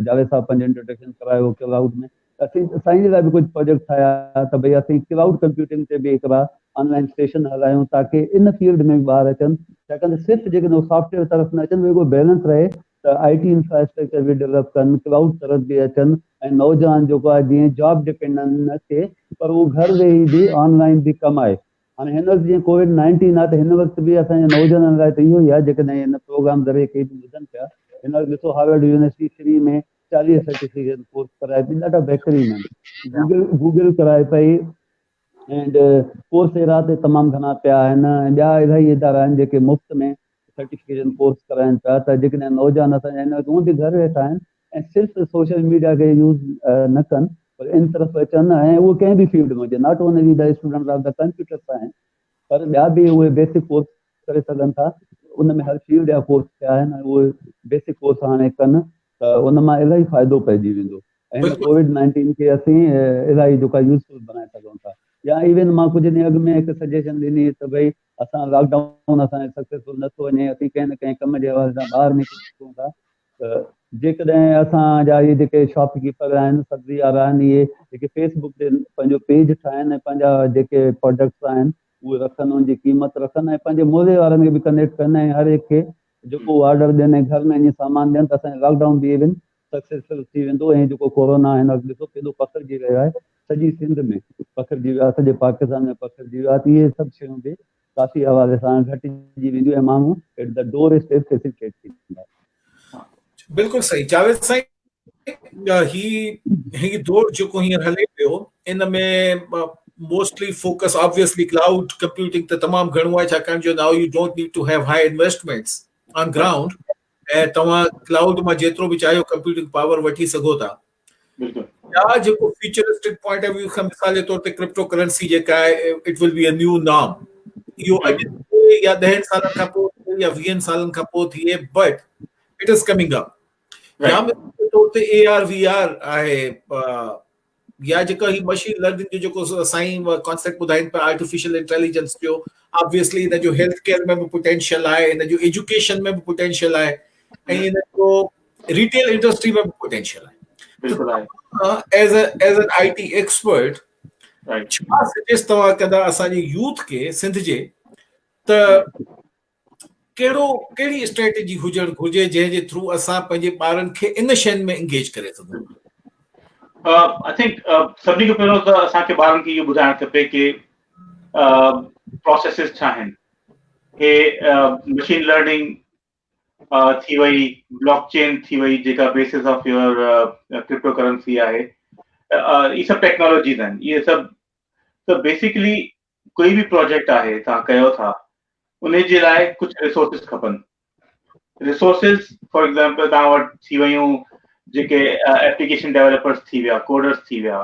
جاويد صاحب پنهنجو انٽروڊڪشن ڪرايو ڪلائوڊ ۾ اسين سائين لاء به ڪجهه پروجيڪٽ ٺاهيا ته ڀئي اسين ڪلائوڊ ڪمپيوٽنگ تي به هڪڙا آن لائين سيشن هلايون تاڪه ان فيلڊ ۾ به ٻار اچن ڇاڪاڻ ته صرف جيڪڏهن هو سافٽ ويئر طرف نه اچن رڳو بيلنس رهي ته آئي ٽي انفراسٽرڪچر به ڊولپ ڪن ڪلائوڊ طرف به اچن ۽ نوجوان جيڪو آهي جيئن جاب ڊپينڊنٽ نه ٿئي پر هو گهر ويهي به آن لائين به ڪم آهي هاڻي هن وقت جيئن ڪووڊ نائنٽين آهي ته هن وقت به اسان جي نوجوانن لاء ته اهو ئي آهي جيڪڏهن هن پروگرام ذريعي ڪي به ٻڌن پيا هن وقت ڏسو هارورڊ يونيورسٽي فري ۾ چاليهه سرٽيفڪيٽ ڪورس ڪرائي پئي ڏاڍا بهترين آهن گوگل گوگل ڪرائي پئي اينڊ ڪورس اهڙا ته تمام گهڻا پيا آهن ۽ ٻيا اهڙا ئي ادارا آهن جيڪي مفت ۾ سرٽيفڪيشن ڪورس ڪرائن پيا ته جيڪڏهن نوجوان اسان جا هن وقت هونئن به گهر ويٺا آهن ۽ صرف سوشل ميڊيا کي يوز نه ڪن پر ان طرف اچن ۽ اهو ڪنهن به فيلڊ ۾ هجي not only the students of the computer science پر ٻيا به اهي بيسڪ ڪورس ڪري سگهن ٿا ان ۾ هر فيلڊ جا ڪورس ٿيا آهن ۽ اهي بيسڪ ڪورس هاڻي ڪن ته ان مان الاهي فائدو پئجي ويندو ۽ هن ڪووڊ نائنٽين کي اسين الاهي جيڪا يوزفل بنائي سگهون ٿا يا ايون مان ڪجهه ڏينهن اڳ ۾ هڪ سجيشن ڏني ته ڀئي اسان لاڪ ڊائون اسان سڪسيسفل نٿو وڃي اسين ڪنهن نه ڪنهن ڪم جي حوالي سان ٻاهر نڪري سگهون ٿا ته جيڪڏهن اسان جا اهي جيڪي شاپ ڪيپر آهن سبزي وارا آهن اهي جيڪي فيس بڪ تي پنهنجو پيج ٺاهن ۽ پنهنجا جيڪي پروڊڪٽس آهن اهي رکن ان جي قيمت رکن ۽ پنهنجي موري وارن کي به ڪنيڪٽ ڪن ۽ هر هڪ کي جيڪو آرڊر ڏين ۽ گهر ۾ اڃي سامان ڏين ته اسان لاڪ ڊائون به ايون سڪسيسفل ٿي ويندو ۽ جيڪو ڪورونا هن وقت ڏسو ڪيڏو پکڙجي رهيو آهي سڄي سنڌ ۾ پکڙجي ويو آهي سڄي پاڪستان ۾ پکڙجي ويو آهي ته اهي سڀ شيون به ڪافي حوالي سان گهٽجي وينديون ۽ ماڻهو at the doorstep facilitate ٿيندا. بلڪل صحيح جاويد سائين هي هي دور جيڪو هينئر هلي پيو ان ۾ mostly focus obviously cloud computing ته تمام گهڻو آهي ڇاڪاڻ جو now you don't need to have high investments on ground ۽ توهان ڪلائوڊ مان جيترو به چاهيو ڪمپيوٽنگ پاور وٺي سگهو ٿا يا جيڪو فيوچرسٽڪ پوائنٽ آف ويو کان مثال جي طور تي ڪرپٽو ڪرنسي جيڪا آهي اٽ ول بي ا نيو نام اهو اڄ يا ڏهن سالن کان پوء يا ويهن سالن کان پوء ٿئي but it is coming up يا مثال جي طور تي اي آر وي آر آهي يا جيڪا هي مشين لرننگ جو جيڪو سائين ڪانسيپٽ ٻڌائين پيا آرٽيفيشل انٽيليجنس جو آبويسلي هن جو هيلٿ ڪيئر ۾ به پوٽينشل آهي هن جو ايجوڪيشن ۾ به پوٽينشل آهي ۽ هن جو ريٽيل انڊسٽري ۾ پوٽينشل آهي بلڪل آهي as a as an I T expert ڇا سجيس توهان ڪندا اسان جي يوٿ کي سنڌ جي ته ڪهڙو ڪهڙي اسٽريٽجي هجڻ گهرجي جنهن جي ٿرو اسان پنهنجي ٻارن کي ان شين ۾ انگيج ڪري سگهون آئي ٿنڪ سڀني کان پهريون ته اسان کي ٻارن کي اهو ٻڌائڻ کپي ڪي پروسيسز ڇا آهن هي مشين لرننگ ٿي وئي بلاڪ چين ٿي وئي جيڪا basis of your cryptocurrency آهي هي سڀ ٽيڪنالاجيز آهن هي سڀ ته بيسيڪلي ڪوئي به پروجيڪٽ آهي تان ڪيو ٿا ان جي لاء ڪجهه ريسورسز کپن ريسورسز فار ايگزامپل تان وٽ ٿي ويون جيڪي ايپليڪيشن ڊيولپرز ٿي ويا ڪوڊرز ٿي ويا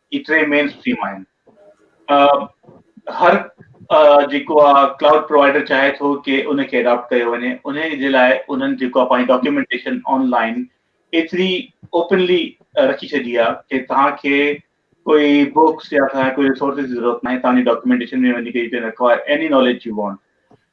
هي ٽي مين اسٽريم آهن هر جيڪو آ ڪلائوڊ پرووائيڊر چاهي ٿو ڪي ان کي اڊاپٽ ڪيو وڃي ان جي لاء انهن جيڪو آ پنهنجي ڊاڪيومينٽيشن آن لائين ايتري اوپنلي رکي ڇڏي آ ڪي توهان کي ڪوئي بوڪس يا توهان کي ڪوئي ريسورسز جي ضرورت ناهي توهان جي ڊاڪيومينٽيشن ۾ وڃي ڪي you can acquire any knowledge you want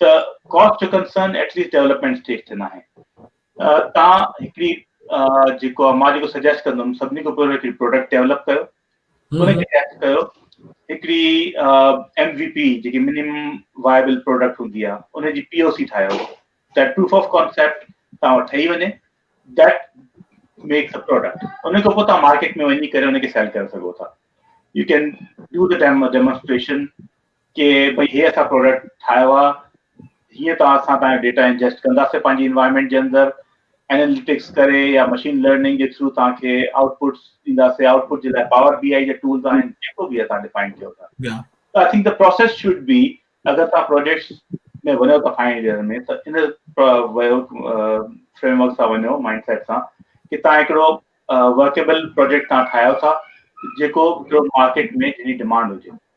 so cost جو concern at least development stage تي ناهي تان هڪڙي جيڪو مان جيڪو سجيسٽ ڪندم سڀني کان پهريون هڪڙي پروڊڪٽ ڊيولپ ڪيو ان کي ٽيسٽ ڪيو هڪڙي ايم وي پي جيڪي منيمم وائبل پروڊڪٽ هوندي آهي ان جي پي او سي ٺاهيو ته پروف آف ڪانسيپٽ تان وٽ ٺهي وڃي ڊيٽ میکس ا پروڊڪٽ ان کان پوء تان مارڪيٽ ۾ وڃي ڪري ان کي سيل ڪري سگهو ٿا يو ڪين ڊو ڊيمونسٽريشن ڪي ڀئي هي اسان پروڊڪٽ ٺاهيو آ هيئن ته اسان تهانجو ڊيٽا انجسٽ ڪنداسين پنهنجي انوائرمينٽ جي اندر اناليٽڪس ڪري يا مشين لرننگ جي ٿرو تهان کي آئوٽ پٽس ڏينداسين آئوٽ پٽ جي لاء پاور بي آئي جا ٽولز آهن جيڪو به تهان ڊيفائن ڪيو ٿا آئي ٿنڪ ته پروسيس شوڊ بي اگر تهان پروجيڪٽس ۾ وڃو ٿا فائنل ايئر ۾ ته ان ويو فريم ورڪ سان وڃو مائنڊ سيٽ سان ڪي تهان هڪڙو ورڪيبل پروجيڪٽ تهان ٺاهيو ٿا جيڪو هڪڙو مارڪيٽ ۾ جنهن جي ڊيمانڊ هجي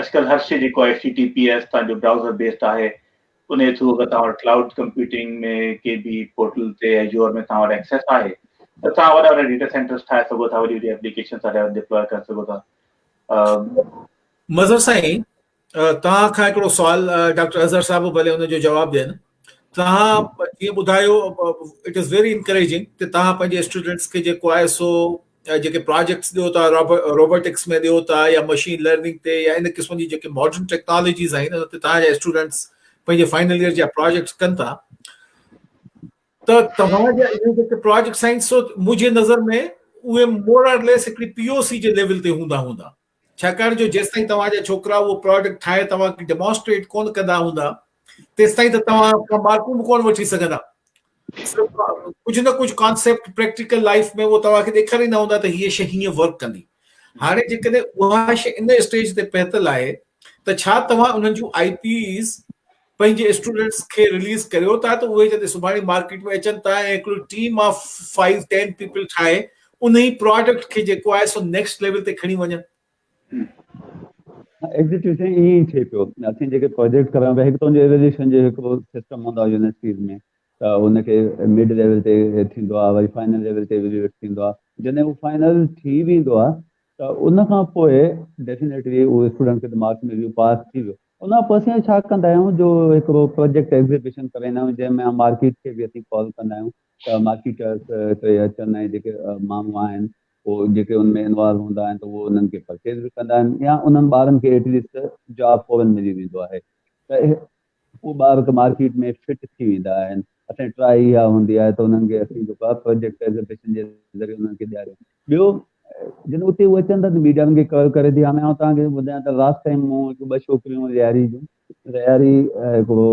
اڄڪلهه هر شيء جيڪو H T T P S تان جو برائوزر بيسڊ آهي انهي ٿرو اگر توهان وٽ ڪلائوڊ ڪمپيوٽنگ ۾ ڪي به پورٽل تي ايزيور ۾ توهان وٽ ايڪسيس آهي ته توهان وڏا وڏا ڊيٽا سينٽرز ٺاهي سگهو ٿا وڏي وڏي ايپليڪيشنز سارا ڊپلاء ڪري سگهو ٿا مظهر سائين توهان کان هڪڙو سوال ڊاڪٽر اظهر صاحب ڀلي ان جو جواب ڏين توهان جيئن ٻڌايو اٽ از ويري انڪريجنگ ته توهان پنهنجي اسٽوڊنٽس کي جيڪو آء ايس او جيڪي پراجيڪٽس ڏيو ٿا روبوٽڪس ۾ ڏيو ٿا يا مشين لرننگ تي يا ان قسم جي جيڪي ماڊرن ٽيڪنالاجيز آهن ان تي تهان جا اسٽوڊنٽس پنهنجي فائنل ايئر جا پراجيڪٽس ڪن ٿا ته توهان جا اهي جيڪي پراجيڪٽس آهن سو منهنجي نظر ۾ اهي مور آر ليس هڪڙي پي او سي جي ليول تي هوندا هوندا ڇاڪاڻ جو جيستائين توهان جا ڇوڪرا اهو پراڊڪٽ ٺاهي توهان کي ڊيمانسٽريٽ ڪونه ڪندا هوندا تيستائين ته توهان ڪا مارڪون به ڪونه وٺي سگهندا ڪجهه نه ڪجهه ڪانسيپٽ پريڪٽيڪل لائف ۾ اهو توهان کي ڏيکاريندا هوندا ته هيء شي هيئن ورڪ ڪندي هاڻي جيڪڏهن اها شي ان اسٽيج تي پهتل آهي ته ڇا توهان انهن جون آئي پيز پنهنجي اسٽوڊنٽس کي رليز ڪريو ٿا ته اهي جڏهن سڀاڻي مارڪيٽ ۾ اچن ٿا ۽ هڪڙو team of five ten people ٺاهي انهي پراڊڪٽ کي جيڪو آهي سو نيڪسٽ ليول تي کڻي وڃن. ايگزيڪٽلي سائين ائين ئي ٿئي پيو اسين جيڪي پراجيڪٽ ڪريا پيا هڪ ته انهي ايويليوشن جو هڪڙو سسٽم هوندو آهي يونيورسٽيز ۾ ته ان کي مڊ ليول تي ٿيندو آهي وري فائنل ليول تي ايويليويٽ ٿيندو آهي جڏهن هو فائنل ٿي ويندو آهي ته ان کان پوء ڊيفينيٽلي اهو اسٽوڊنٽ کي ته مارڪس ملي ويو پاس ٿي ويو ان کان پوء اسين ڇا ڪندا آهيون جو هڪڙو پروجيڪٽ ايگزيبيشن ڪرائيندا آهيون جنهن ۾ اسين مارڪيٽ کي به اسين ڪال ڪندا آهيون ته مارڪيٽرس هتي اچن ۽ جيڪي ماڻهو آهن هو جيڪي ان ۾ انوالو هوندا آهن ته اهو انهن کي پرچيز به ڪندا آهن يا انهن ٻارن کي ايٽليسٽ جاب فورن ملي ويندو آهي ته اهي اهو ٻار ته مارڪيٽ ۾ فٽ ٿي ويندا آهن اسان جي ٽرائي اها هوندي آهي ته انهن کي اسين جيڪو آهي پروجيڪٽ ايگزيبيشن جي ذريعي انهن کي ڏياريون ٻيو جڏهن اتي هو اچن ٿا ته ميڊيا انهن کي ڪور ڪري ٿي هاڻي آئون توهان کي ٻڌايان ته لاسٽ ٽائيم مون هڪ ٻه ڇوڪريون رياري جون رياري هڪڙو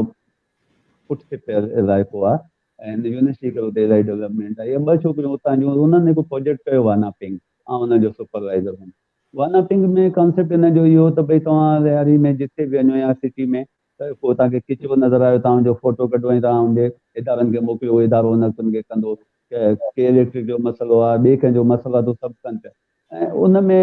پٽ کي پيل اضائفو آ ۽ يونيورسٽي ڪرو ته اضائي ڊيولپمنٽ آ يا ٻه ڇوڪريون اتان جون انهن هڪ پروجيڪٽ ڪيو وانا پنگ آ ان جو سپروائزر هوم وانا پنگ ۾ ڪانسيپٽ ان جو اهو ته ڀئي توهان رياري ۾ جتي به وڃو يا سٽي ۾ ته ڪو توهان کي ڪچرو نظر آيو توهان ان جو فوٽو ڪڍو ۽ توهان ان ڏي ادارن کي موڪليو اهو ادارو ان وقت ان کي ڪندو ڪي اليڪٽرڪ جو مسئلو آهي ٻئي ڪنهن جو مسئلو آهي ته اهو سڀ ڪن پيا ۽ ان ۾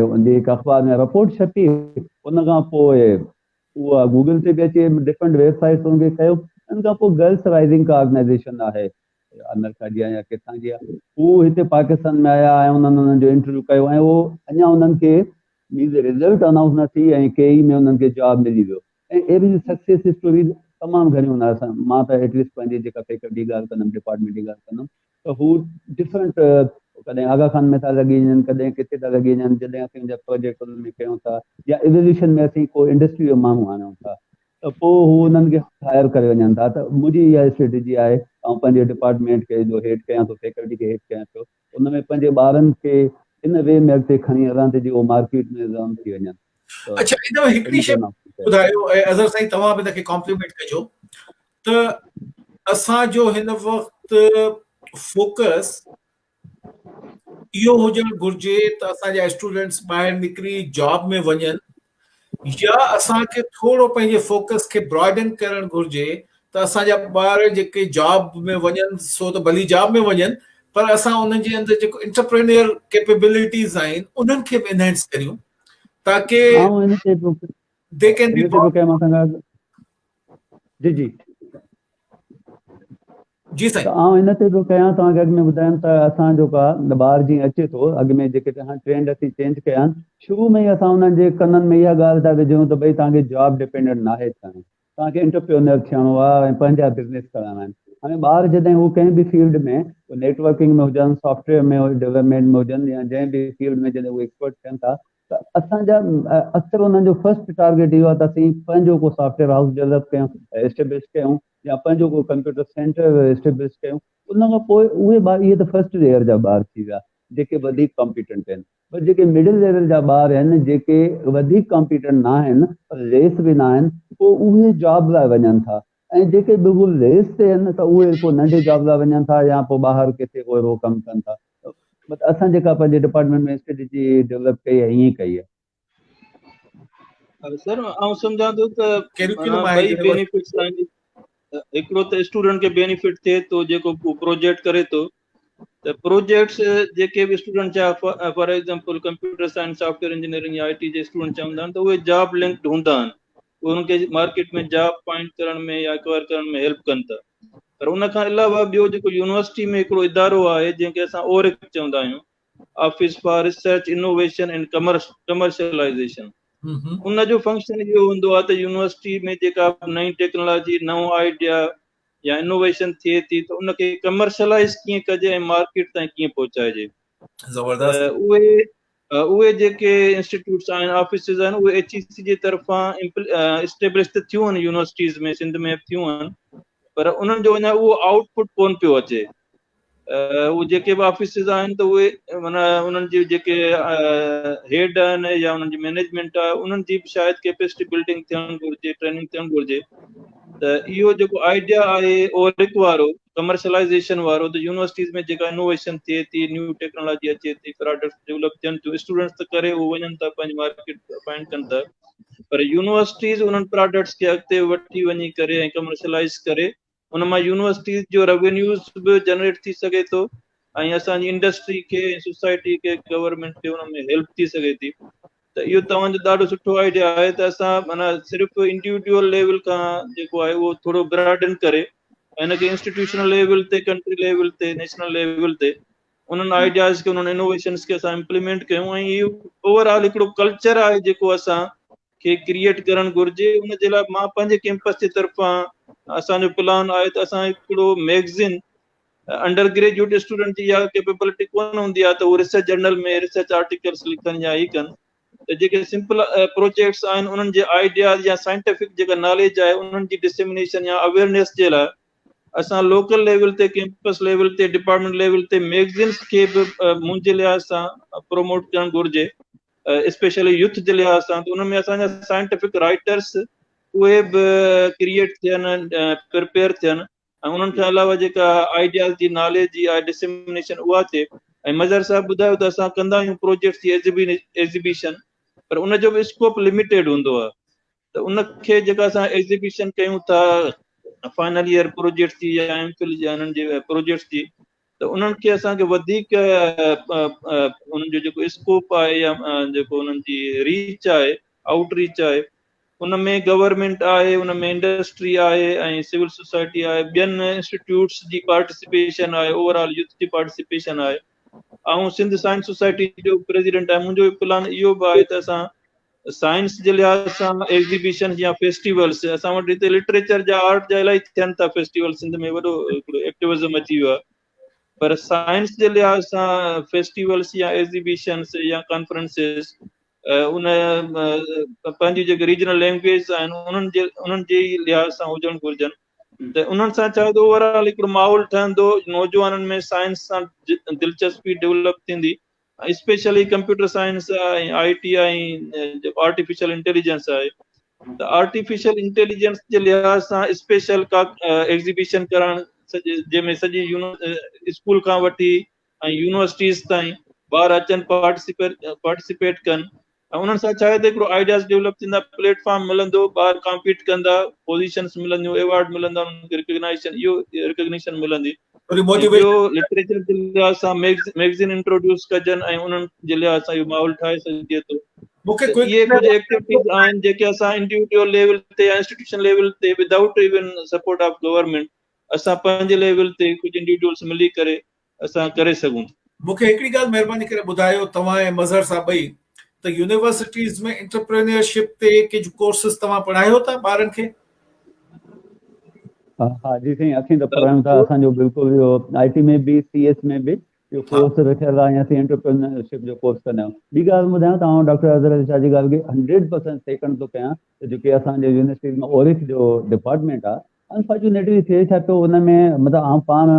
ان جي هڪ اخبار ۾ رپورٽ ڇپي ان کان پوء اها گوگل تي به اچي ڊفرنٽ ويب سائيٽ تي ان کي ڪيو ان کان پوء گرلس رائزنگ ڪا آرگنائزيشن آهي آمريڪا جي يا ڪٿان جي آهي هو هتي پاڪستان ۾ آيا ۽ انهن انهن جو انٽرويو ڪيو ۽ اهو اڃا انهن کي ٻي ته رزلٽ انائونس نه ٿي ۽ ڪي اي ۾ انهن کي جاب ملي ويو ۽ اهڙيون جي سڪسيس اسٽوريز تمام گهڻيون هن آهي مان ته ايٽ ليسٽ پنهنجي جيڪا فيڪلٽي ڳالهه ڪندم ڊپارٽمينٽ جي ڳالهه ڪندم ته هو ڊفرنٽ ڪڏهن آغا خان ۾ ٿا لڳي وڃن ڪڏهن ڪٿي ٿا لڳي وڃن جڏهن اسين جا پروجيڪٽ انهن ۾ ڪيون ٿا يا ايويليوشن ۾ اسين ڪو انڊسٽري جو ماڻهو آڻيون ٿا ته پوء هو انهن کي هائر ڪري وڃن ٿا ته منهنجي اها اسٽريٽجي آهي آئون پنهنجي ڊپارٽمينٽ کي جو هيڊ ڪيان ٿو فيڪلٽي کي هيڊ ڪيان ٿو ان ۾ پنهنجي ٻارن کي ان وي ۾ اڳتي کڻي هلان ته جي اهو مارڪيٽ ۾ زعم ٿي وڃن ته اڇا ان ۾ هڪڙي شي ٻڌايو ۽ اظهر سائين توهان به ان کي ڪامپليمينٽ ڪجو ته اسان جو هن وقت فوڪس اهو هجڻ گهرجي ته اسان جا اسٽوڊنٽس ٻاهر نڪري جاب ۾ وڃن يا اسان کي ٿورو پنهنجي فوڪس کي براڊن ڪرڻ گهرجي ته اسان جا ٻار جيڪي جاب ۾ وڃن سو ته ڀلي جاب ۾ وڃن پر اسان انهن جي اندر جيڪو انٽرپرينيئر ڪيپيبلٽيز آهن انهن کي به انهينس ڪريون تاڪي دي ڪين بي جي جي جي سائين. ته آئون ان تي به ڪيان توهان کي اڳ ۾ ٻڌايم ته اسان جو ڪا ٻار جيئن اچي ٿو اڳ ۾ جيڪي هاڻي ٽرينڊ اسين چينج ڪيا آهن شروع ۾ ئي اسان انهن جي ڪنن ۾ اها ڳالهه ٿا وجهون ته ڀئي توهان کي جاب ڊپينڊنٽ ناهي ٿيڻو توهان کي انٽرپيونر ٿيڻو آهي ۽ پنهنجا بزنس ڪرڻا آهن هاڻي ٻار جڏهن هو ڪنهن به فيلڊ ۾ نيٽ ورڪنگ ۾ هجن سافٽويئر ۾ ڊيولپمينٽ ۾ هجن يا جنهن به فيلڊ ۾ جڏهن هو ايڪسپرٽ ٿين ٿا ته اسان جا اڪثر انهن جو فرسٽ ٽارگيٽ اهو آهي ته اسين پنهنجو ڪو سافٽويئر هائوس ڊيولپ ڪيون اسٽيبلش ڪيون يا پنهنجو ڪو ڪمپيوٽر سينٽر اسٽيبلش ڪيون ان کان پوء اهي ٻار اهي ته فرسٽ ليئر جا ٻار ٿي ويا جيڪي وڌيڪ ڪمپيٽنٽ آهن پر جيڪي مڊل ليول جا ٻار آهن جيڪي وڌيڪ ڪمپيٽنٽ نه آهن پر ليس به نه آهن پوء اهي جاب لاء وڃن ٿا ۽ جيڪي بلڪل ليس تي آهن ته اهي ڪو ننڍي جاب لاء وڃن ٿا يا پوء ٻاهر ڪٿي ڪو اهڙو ڪم ڪن ٿا اسان جيڪا پنهنجي ڊپارٽمينٽ ۾ اسٽريٽجي ڊولپ ڪئي آهي ائين ڪئي آهي سر آئون سمجهان ٿو ته ٻئي بينيفٽس آهن هڪڙو ته اسٽوڊنٽ کي بينيفٽ ٿئي ٿو جيڪو پروجيڪٽ ڪري ٿو ته پروجيڪٽس جيڪي به اسٽوڊنٽ جا for example computer science software engineering I T جي اسٽوڊنٽ چوندا آهن ته اهي جاب لنڪڊ هوندا آهن اهي انهن کي مارڪيٽ ۾ جاب فائنڊ ڪرڻ ۾ يا اڪوائر ڪرڻ ۾ هيلپ ڪن ٿا پر ان کان علاوه ٻيو جيڪو يونيورسٽي ۾ هڪڙو ادارو آهي جنهن کي اسان اورڪ چوندا آهيون office for research innovation and commercialisation ان جو فنڪشن اهو هوندو آهي ته يونيورسٽي ۾ جيڪا نئين ٽيڪنالاجي نئون آئيڊيا يا انوويشن ٿئي ٿي ته ان کي ڪمرشلائز ڪيئن ڪجي ۽ مارڪيٽ تائين ڪيئن پهچائجي زبردست اهي اهي جيڪي انسٽيٽيوٽس آهن آفيسز آهن اهي ايچ اي سي جي طرفان اسٽيبلش ته ٿيون آهن يونيورسٽيز ۾ سنڌ ۾ ٿيون آهن پر انهن جو اڃا اهو آئوٽ پٽ ڪون پيو اچي اهي جيڪي به آفيسز آهن ته اهي معنيٰ انهن جي جيڪي هيڊ آهن يا انهن جي مينيجمينٽ آهي انهن جي به شايد ڪيپيسٽي بلڊنگ ٿيڻ گهرجي ٽريننگ ٿيڻ گهرجي ته اهو جيڪو آئيڊيا آهي اورڪ وارو ڪمرشلائزيشن وارو ته يونيورسٽيز ۾ جيڪا انوويشن ٿئي ٿي نيو ٽيڪنالاجي اچي ٿي پراڊڪٽس ڊيولپ ٿين ٿيون اسٽوڊنٽس ته ڪري اهو وڃن ٿا پنهنجي مارڪيٽ فائنڊ ڪن ٿا پر يونيورسٽيز انهن پراڊڪٽس کي اڳتي وٺي وڃي ڪري ۽ ڪمرشلائز ڪري ان مان يونيورسٽيز جو روينيوز به جنريٽ ٿي سگهي ٿو ۽ اسان جي انڊسٽري کي ۽ سوسائٽي کي گورنمينٽ کي ان ۾ هيلپ ٿي سگهي ٿي ته اهو توهان جو ڏاڍو سٺو آئيڊيا آهي ته اسان مانا صرف انڊيوڊيول ليول کان جيڪو آهي اهو ٿورو براڊن ڪري ان کي انسٽيٽيوشنل ليول تي ڪنٽري ليول تي نيشنل ليول تي انهن آئيڊياز کي انهن انوويشنس کي اسان امپليمينٽ ڪيون ۽ اوور آل هڪڙو ڪلچر آهي جيڪو اسان کي ڪريئيٽ ڪرڻ گهرجي ان جي لاء مان پنهنجي ڪيمپس جي طرفان اسان جو پلان آهي ته اسان هڪڙو ميگزين انڊر گريجويٽ اسٽوڊنٽ جي اها ڪيپيبلٽي ڪونه هوندي آهي ته هو ريسرچ جرنل ۾ ريسرچ آرٽيڪلس لکن يا هي ڪن ته جيڪي سمپل پروجيڪٽس آهن انهن جي آئيڊياز يا سائنٽيفڪ جيڪا ناليج آهي انهن جي ڊسيمنيشن يا اويئرنيس جي لاء اسان لوڪل ليول تي ڪيمپس ليول تي ڊپارٽمنٽ ليول تي ميگزينس کي به منهنجي لحاظ سان پروموٽ ڪرڻ گهرجي اسپيشلي يوٿ جي لحاظ سان ته ان ۾ اسان جا سائنٽيفڪ رائيٽرس اهي به ڪريئيٽ ٿين پرپيئر ٿين ۽ انهن کان علاوه جيڪا آئيڊياز جي ناليج جي آهي ڊسمنيشن اها ٿئي ۽ مظهر صاحب ٻڌايو ته اسان ڪندا آهيون پروجيڪٽس جي ايگزيبيشن پر ان جو به اسڪوپ لميٽيڊ هوندو آهي ته ان کي جيڪا اسان ايگزيبيشن ڪيون ٿا فائنل ايئر پروجيڪٽس جي يا ايم فل جي انهن جي پروجيڪٽس جي ته انهن کي اسان کي وڌيڪ انهن جو جيڪو اسڪوپ آهي يا جيڪو انهن جي ريچ آهي آئوٽ ريچ آهي ان ۾ گورنمينٽ آهي ان ۾ انڊسٽري آهي ۽ سول سوسائٽي آهي ٻين انسٽيٽيوٽس جي پارٽيسپيشن آهي اوور آل يوٿ جي پارٽيسپيشن آهي آئون سنڌ سائنس سوسائٽي جو پريزيڊنٽ آهي منهنجو پلان اهو به آهي ته اسان سائنس جي لحاظ سان ايگزيبيشن يا فيسٽيولس اسان وٽ هتي لٽريچر جا آرٽ جا الائي ٿين ٿا فيسٽيول سنڌ ۾ وڏو هڪڙو ايڪٽيوزم اچي ويو آهي پر سائنس جي لحاظ سان فيسٽيولس يا ايگزيبيشنس يا ڪانفرنسز ان پنهنجي جيڪي ريجنل لينگويج آهن انهن جي انهن جي لحاظ سان هجڻ گهرجن ته انهن سان چاهي ته اوور آل هڪڙو ماحول ٺهندو نوجوانن ۾ سائنس سان دلچسپي ڊيولپ ٿيندي especially computer science ۽ I T I جيڪو آرٽيفيشل انٽيليجنس آهي ته آرٽيفيشل انٽيليجنس جي لحاظ سان اسپيشل ڪا ايگزيبيشن ڪرڻ جنهن ۾ سڄي اسڪول کان وٺي ۽ يونيورسٽيز تائين ٻار اچن پارٽيسپيٽ ڪن ۽ انهن سان ڇاهي ته هڪڙو آئيڊياز ڊيولپ ٿيندا، پليٽ فارم ملندو، ٻار ڪامپيٽ ڪندا، پوزيشنس ملنديون، ايوارڊ ملندا، انهن کي رڪگنائيشن اهو رڪگنيشن ملندي ۽ ٻيو لٽريچر جي لحاظ سان ميگزين انٽروڊيوس ڪجن ۽ انهن جي لحاظ سان اهو ماحول ٺاهي سگهجي ٿو ته اهي ڪجهه ايڪٽيوٽيز آهن جيڪي اسان انڊيوڊيول ليول تي يا انسٽيٽيوشن ليول تي without even support of government اسان پنهنجي ليول تي ڪجهه انڊيوڊيولس ملي ڪري اسان ڪري سگهون ٿا. مون کي هڪڙي ڳالهه مهرباني ڪري ٻڌايو توهان ۽ مظهر صاحب ٻئي ته يونيورسٽيز ۾ انٽرپرينيئر شپ تي ڪجهه ڪورسز توهان پڙهايو ٿا ٻارن کي؟ ها جي سائين اسين ته پڙهايون ٿا اسان جو بلڪل اهو آئي ٽي ۾ به سي ايس ۾ به اهو ڪورس رکيل آهي ۽ اسين انٽرپرينيئر شپ جو ڪورس ڪندا آهيون ٻي ڳالهه ٻڌايان توهان ڊاڪٽر اظهر علي شاهه جي ڳالهه کي هنڊريڊ پرسينٽ سيڪنڊ ٿو ڪيان ته جيڪي اسان جي يونيورسٽيز ۾ اوريڪ جو ڊپارٽمينٽ آهي انفارچونيٽلي ٿئي ڇا ٿو ان ۾ مطلب آئون پاڻ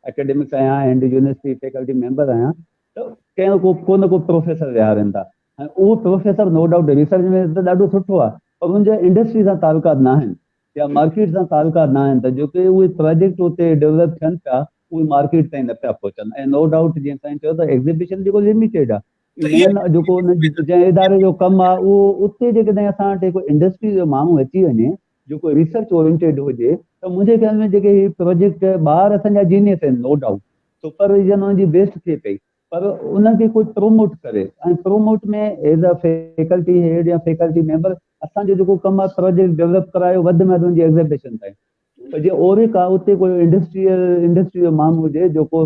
اڪيڊمڪ آهيان ۽ هنڊ يونيورسٽي فيڪلٽي ميمبر آهيان ته ڪنهن ڪو ڪو نه ڪو پروفيسر ويهارين ٿا ۽ اهو پروفيسر نو ڊائوٽ ريسرچ ۾ ته ڏاڍو سٺو آهي پر ان جا انڊسٽري سان تعلقات نه آهن يا مارڪيٽ سان تعلقات نه آهن ته جيڪي اهي پروجيڪٽ اتي ڊيولپ ٿين پيا اهي مارڪيٽ تائين نه پيا پهچن ۽ نو ڊائوٽ جيئن سائين چيو ته ايگزيبيشن جيڪو لميٽيڊ آهي مين جيڪو ان جنهن اداري جو ڪم آهي اهو اتي جيڪڏهن اسان وٽ ڪو انڊسٽري جو ماڻهو اچي وڃي جيڪو ريسرچ اورينٽيڊ هجي ته منهنجي خيال ۾ جيڪي هي پروجيڪٽ ٻار اسان جا جينيس آهن نو ڊائوٽ سپر ويزن انهن جي بيسٽ ٿئي پئي پر انهن کي ڪوئي پروموٽ ڪري ۽ promote ۾ as a faculty head يا فيڪلٽي ميمبر اسان جو جيڪو ڪم آهي پروجيڪٽ ڊيولپ ڪرايو وڌ ۾ وڌ ان جي ايگزيبيشن تائين جي اوريڪا اتي ڪوئي انڊسٽريل انڊسٽري جو ماڻهو هجي جيڪو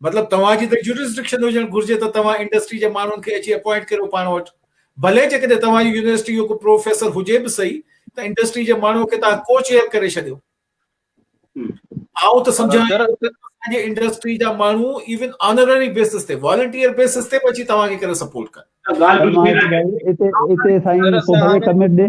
مطلب توهان جي ته جورسڊڪشن هجڻ گهرجي ته توهان انڊسٽري جي ماڻهن کي اچي اپوائنٽ ڪريو پاڻ وٽ ڀلي جيڪڏهن توهان جي يونيورسٽي جو ڪو پروفيسر هجي به صحيح ته انڊسٽري جي ماڻهو کي توهان ڪو چيئر ڪري ڇڏيو آئون ته سمجهان جي انڊسٽري جا ماڻهو ايون آنرري بيسس تي والنٽيئر بيسس تي به اچي توهان کي ڪري سپورٽ ڪن اتي اتي سائين ڪو ڀلي ڪميٽ ڏي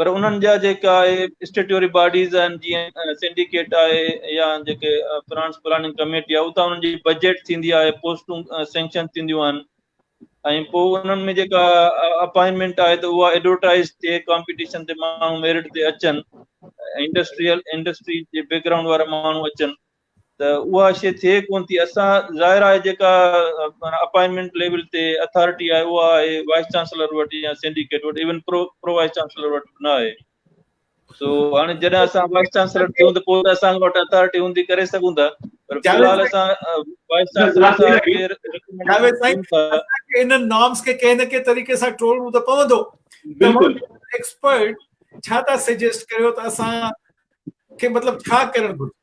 پر انهن جا جيڪا آهي اسٽيٽيوري باڊيز آهن جيئن سنڊيڪيٽ آهي يا جيڪي فرانس پلاننگ ڪميٽي آهي اتان انهن جي بجيٽ ٿيندي آهي پوسٽون سينڪشن ٿينديون آهن ۽ پوء انهن ۾ جيڪا اپائنٽمينٽ آهي ته اها ايڊورٽائز ٿئي ڪامپيٽيشن تي ماڻهو ميرٽ تي اچن انڊسٽريل انڊسٽري جي بيڪگرائونڊ وارا ماڻهو اچن ته اها شيء ٿئي ڪونه ٿي اسان ظاهر آهي جيڪا اپائنٽمينٽ ليول تي اٿارٽي آهي اها آهي وائيس چانسلر وٽ يا سينڊيڪيٽ وٽ even pro pro vice chancellor وٽ نه آهي سو هاڻي جڏهن اسان وائيس چانسلر ٿيون ته پوء اسان وٽ اٿارٽي هوندي ڪري سگهون ٿا پر في الحال اسان وائيس چانسلر سان ڪير جاويد سائين اسان انهن نارمز کي ڪنهن نه ڪنهن طريقي سان ٽولڻو ته پوندو بلڪل ايڪسپرٽ ڇا ٿا سجيسٽ ڪريو ته اسان کي مطلب ڇا ڪرڻ گهرجي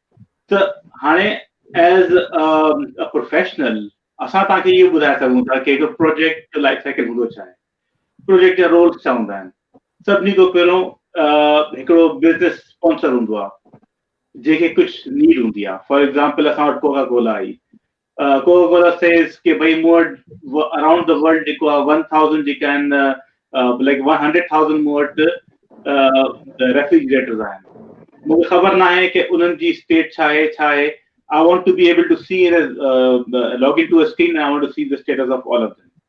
ته هاڻي as a professional اسان توهان کي اهو ٻڌائي سگهون ٿا ڪي هڪ پروجيڪٽ جو لائف سائيڪل هوندو ڇا آهي پروجيڪٽ جا رولس ڇا هوندا آهن سڀني کان پهريون هڪڙو بزنس اسپانسر هوندو آهي جنهن کي ڪجهه نيڊ هوندي آهي فار ايگزامپل اسان وٽ Coca Cola I Coca Cola says ڪي ڀئي مون وٽ اراونڊ دي ورلڊ جيڪو آهي ون ٿائوزنڊ جيڪا آهن لائڪ ون هنڊريڊ ٿائوزنڊ مون وٽ ريفريجريٽرز آهن مون کي خبر نه آهي ڪي انهن جي اسٽيٽ ڇا آهي ڇا آهي I want to be able to see log in to a screen I want to see the status of all of them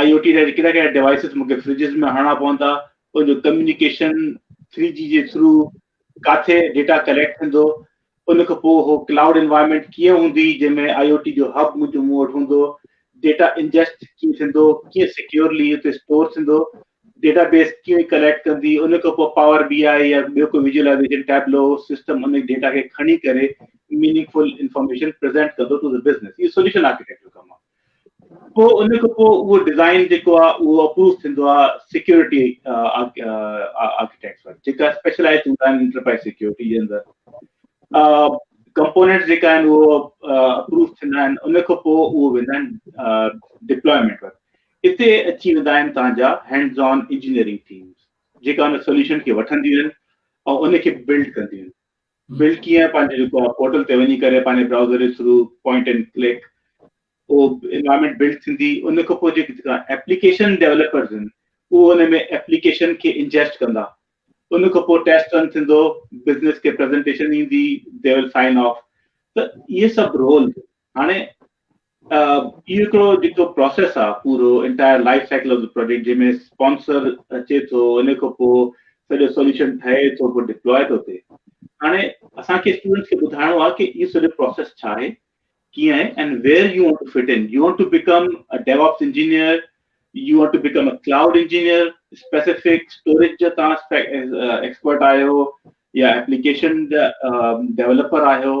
I O T جا ڪهڙا ڪهڙا ڊوائسز مون کي فرجز ۾ هڻڻا پوندا ان جو ڪميونيڪيشن ٿري جي جي ٿرو ڪاٿي ڊيٽا ڪليڪٽ ٿيندو ان کان پوء هو ڪلائوڊ انوائرمنٽ ڪيئن هوندي جنهن ۾ آئي او ٽي جو هب منهنجو مون وٽ هوندو ڊيٽا انجسٽ ڪيئن ٿيندو ڪيئن سيڪيورلي اتي اسٽور ٿيندو ڊيٽا بيس ڪيئن ڪليڪٽ ڪندي ان کان پوء پاور بي آئي يا ٻيو ڪو ويجولائزيشن ٽيبلو سسٽم ان ڊيٽا کي کڻي ڪري ميننگ فل انفارميشن پريزنٽ ڪندو ٽو ذا بزنس هي سوليوشن آرڪيٽيڪٽ جو ڪم پوء ان کان پوء اهو ڊزائين جيڪو آهي اهو اپروو ٿيندو آهي سيڪيورٽي آرڪيٽيڪٽس وٽ جيڪا اسپيشلائز هوندا آهن انٽرپرائز سيڪيورٽي جي اندر ڪمپوننٽس جيڪا آهن اهو اپروو ٿيندا آهن ان کان پوء اهو ويندا آهن ڊپلوائمنٽ وٽ اتي اچي ويندا آهن تنهنجا هينڊز آن انجنيئرنگ ٿيمز جيڪا ان سوليوشن کي وٺنديون آهن ۽ ان کي بلڊ ڪنديون آهن بلڊ ڪيئن پنهنجي جيڪو آهي پورٽل تي وڃي ڪري پنهنجي برائوزر جي ٿرو پوائنٽ اينڊ ڪلڪ اهو انوائرمينٽ بلڊ ٿيندي ان کان پوء جيڪي ايپليڪيشن ڊيولپرز آهن اهو ان ۾ ايپليڪيشن کي انجيسٽ ڪندا ان کان پوء ٽيسٽ رن ٿيندو بزنس کي پريزنٽيشن ايندي دي ول سائن آف ته اهي سڀ رول هاڻي اهو هڪڙو جيڪو پراسيس آ پورو entire life cycle of the project جنهن ۾ اسپانسر اچي ٿو ان کان پوء سڄو سوليوشن ٺهي ٿو پوء ڊپلوء ٿو ٿئي هاڻي اسان کي اسٽوڊنٽس کي ٻڌائڻو آ ڪي اهو سڄو پراسيس ڇا آهي ڪيئن آهي and where you want to fit in you want to become a DevOps engineer you want to become a cloud engineer specific storage جا تان ايڪسپرٽ آهيو يا ايپليڪيشن جا ڊيولپر آهيو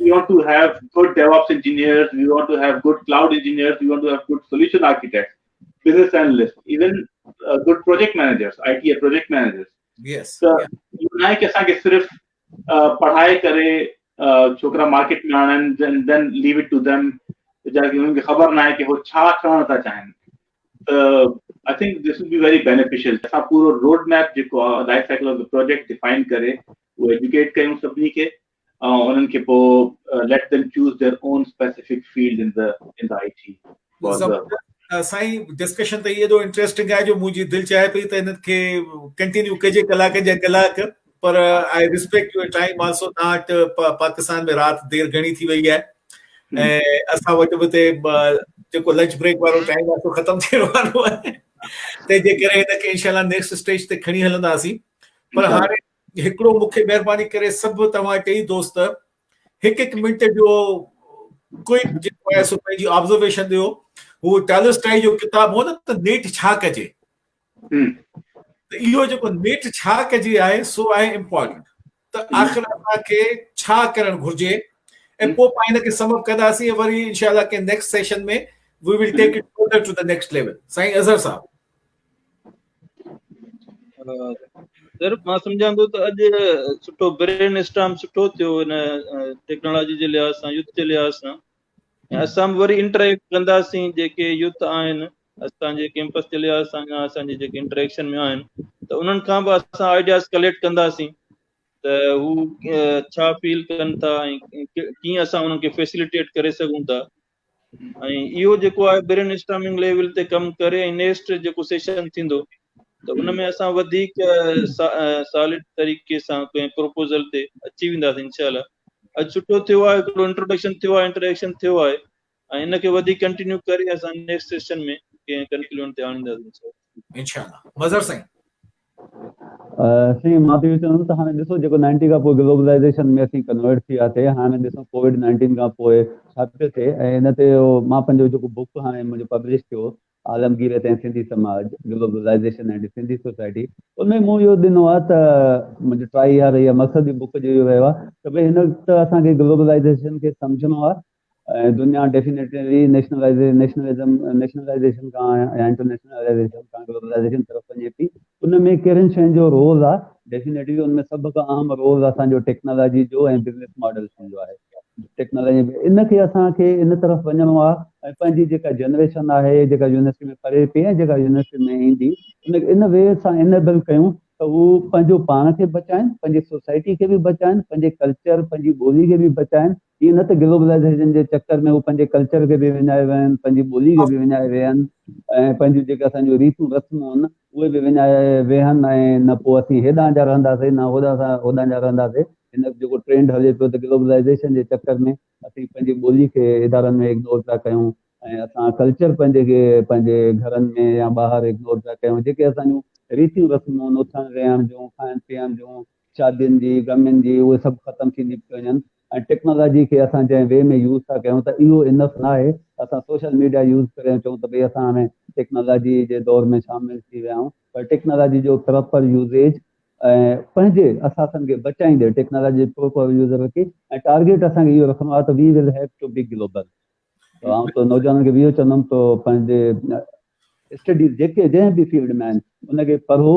we want to have good DevOps engineers we want to have good cloud engineers we want to have good solution architect business analyst even good project managers I T project managers yes ته اهو ناهي ڪي اسان کي صرف پڙهائي ڪري ڇوڪرا market ۾ آڻن then then leave it to them جا کي انهن کي خبر ناهي ڪي هو ڇا ٺهڻ ٿا چاهين ته I think this we very beneficial اسان پورو روڊ ميپ جيڪو لائف سائيڪل آف ته پروجيڪٽ ڊيفائن ڪري اهو ايجوڪيٽ ڪيون سڀني کي ۽ انهن کي پوء let them choose their own specific field in the in the I T for the سائين ڊسڪشن ته ايڏو انٽريسٽنگ آهي جو منهنجي دل چاهي پئي ته انهن کي ڪنٽينيو ڪجي ڪلاڪ جا ڪلاڪ پر I respect your time also that Pakistan ۾ رات دير گهڻي ٿي وئي آهي ۽ اسان وٽ به تي جيڪو لنچ بريڪ وارو ٽائيم آهي سو ختم ٿيڻ وارو آهي تنهنجي ڪري هن کي انشاءالله نيڪسٽ اسٽيج تي کڻي هلنداسين پر هاڻي هڪڙو مون کي مهرباني ڪري سڀ توهان ٽئي دوست هڪ هڪ منٽ جو ڪوئڪ جيڪو آهي سو پنهنجي آبزرويشن ڏيو هو ٽالسٽائي جو ڪتاب هو نه ته نيٺ ڇا ڪجي ته اهو جيڪو نيٺ ڇا ڪجي آهي سو آهي امپورٽنٽ ته آخر اسان کي ڇا ڪرڻ گهرجي ۽ پوء پاڻ هن کي سم اپ ڪنداسين وري انشاءالله ڪنهن next session ۾ we will take it further to ته نيڪسٽ ليول سائين اظهر صاحب سر مان سمجهان ٿو ته اڄ سٺو برين اسٽام سٺو ٿيو هن ٽيڪنالاجي جي لحاظ سان يوٿ جي لحاظ سان اسان به وري انٽريڪٽ ڪنداسين جيڪي يوٿ آهن اسان جي ڪيمپس جي لحاظ سان يا اسان جي جيڪي انٽريڪشن ۾ آهن ته انهن کان به اسان آئيڊياز ڪليڪٽ ڪنداسين ته هو ڇا فيل ڪن ٿا ۽ ڪيئن اسان انهن کي فيسليٽيٽ ڪري سگهون ٿا ۽ اهو جيڪو آهي برين اسٽامنگ ليول تي ڪم ڪري ۽ نيسٽ جيڪو سيشن ٿيندو ته ان ۾ اسان وڌيڪ سالڊ طريقي سان ڪنهن پروپوزل تي اچي وينداسين انشاء الله اڄ سٺو ٿيو آهي هڪڙو انٽروڊڪشن ٿيو آهي انٽريڪشن ٿيو آهي ۽ ان کي وڌيڪ ڪنٽينيو ڪري اسان نيڪسٽ سيشن ۾ ڪنهن ڪنڪلوڊ تي آڻينداسين انشاء الله مظهر سائين سائين مان ٿي چون ته هاڻي ڏسو جيڪو 90 کان پوء گلوبلائيزيشن ۾ اسين ڪنورٽ ٿي ويا ٿي هاڻي ڏسو ڪوويڊ 19 کان پوء ڇا پيو ٿئي ۽ ان تي مان پنهنجو جيڪو بوڪ هاڻي منهنجو پبلش ٿيو عالمگير تي سنڌي سماج گلوبلائيزيشن ۽ سنڌي سوسائٽي ان ۾ مون اهو ڏنو آهي ته منهنجو ٽرائي اها رهي آهي مقصد بوڪ جو اهو رهيو آهي ته ڀائی هن ته اسان کي گلوبلائيزيشن کي سمجهڻو آهي ۽ دنيا ڊيفينيٽلي نيشنلزم، نيشنلائيزيشن کان يا انٽرنيشنلائيزيشن کان گلوبلائيزيشن طرف وڃي ٿي. ان ۾ ڪهڙين شين جو رول آهي؟ ڊيفينيٽلي ان ۾ سڀ کان اهم رول اسان جو ٽيڪنالاجي جو ۽ بزنس ماڊل شين جو آهي. ٽيڪنالاجي ان کي اسان کي ان طرف وڃڻو آهي ۽ پنهنجي جيڪا جنريشن آهي جيڪا يونيورسٽي ۾ پڙهي پئي ۽ جيڪا يونيورسٽي ۾ ايندي ان کي ان وي سان انيبل ڪيون ته هو پنهنجو پاڻ کي بچائين، پنهنجي سوسائٽي کي به بچائين، پنهنجي ڪلچر، پنهنجي ٻولي کي به بچائين. ايئن نه ته گلوبلائيزيشن جي چڪر ۾ هو پنهنجي ڪلچر کي به وڃائي ويا آهن، پنهنجي ٻولي کي به وڃائي ويا آهن ۽ پنهنجون جيڪي اسان جون ريتون رسمون آهن اهي به وڃائي ويا آهن ۽ نه پوء اسين هيڏانهن جا رهنداسين نه هوڏانهن سان هوڏانهن جا رهنداسين. هن جيڪو ٽرينڊ هلي پيو ته گلوبلائيزيشن جي چڪر ۾ اسين پنهنجي ٻولي کي ادارن ۾ اگنور پيا ڪيون ۽ اسان ڪلچر پنهنجي کي پنهنجي گهرن ۾ يا ٻاهر اگنور پيا ڪيون جيڪي اسان جون ريتيون رسمون آهن اٿڻ ويهڻ جون کائڻ پيئڻ جون شادين جي غمين جي اهي سڀ ختم ٿيندي پئي وڃن ۽ ٽيڪنالاجي کي اسان جنهن وي ۾ يوز ٿا ڪيون ته اهو انف ناهي اسان سوشل ميڊيا يوز ڪريون چئون ته ڀئي اسان هاڻي ٽيڪنالاجي جي دور ۾ شامل ٿي ويا آهيون پر ٽيڪنالاجي جو پراپر يوزيج ۽ پنهنجي اثاثن کي بچائيندي ٽيڪنالاجي جي پراپر يوز رکي ۽ ٽارگيٽ اسان کي اهو رکڻو آهي ته we will have to be global ته آئون ته نوجوانن کي به اهو چوندم ته پنهنجي اسٽڊيز جيڪي جنهن به فيلڊ ۾ آهن ان کي پڙهو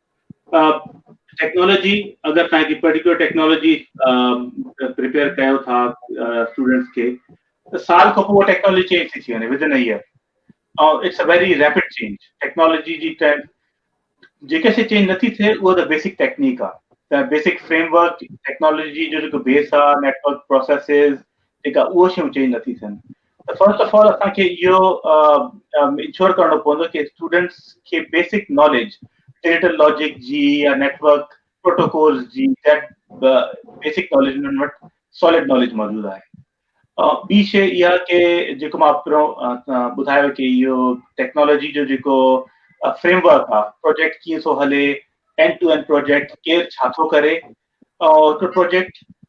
ٽيڪنالاجي اگر تنهن کي پرٽيڪولر ٽيڪنالاجي پريپيئر ڪيو ٿا اسٽوڊنٽس کي ته سال کان پوء ٽيڪنالاجي چينج ٿي ٿي وڃي within year ۽ it's a very rapid change technology جي ٽرينڊ جيڪي شي چينج نٿي ٿئي اها ته بيسڪ ٽيڪنيڪ آ ته بيسڪ فريم ورڪ ٽيڪنالاجي جو جيڪو بيس آ نيٽورڪ پروسيسز جيڪا اهو شيون چينج نٿي ٿين ته فرسٽ آف آل اسان کي اهو انشور ڪرڻو پوندو ته اسٽوڊنٽس کي بيسڪ ناليج ڊيٽا لاجڪ جي يا نيٽ ورڪ پروٽوڪول جي بيسڪ ناليج انهن وٽ سالڊ ناليج موجود آهي ٻي شي اها ڪي جيڪو مان پهريون ٻڌايو ڪي اهو ٽيڪنالاجي جو جيڪو فريم ورڪ آهي پروجيڪٽ ڪيئن ٿو هلي اينڊ ٽو اينڊ پروجيڪٽ ڪير ڇا ٿو ڪري ۽ هڪ پروجيڪٽ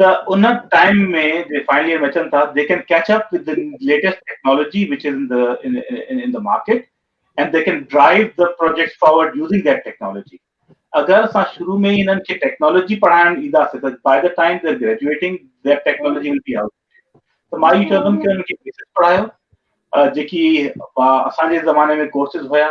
ته ان ٽائيم ۾ جي فائنل ايئر ۾ اچن ٿا they can catch up with the latest technology which is in in the market and they can drive the projects forward using that technology اگر اسان شروع ۾ ئي انهن کي ٽيڪنالاجي پڙهائڻ اينداسين ته by the time the graduating the technology will be out ته مان اهو چوندم ته انهن کي بيسڪ پڙهايو جيڪي اسان جي زماني ۾ ڪورسز هيا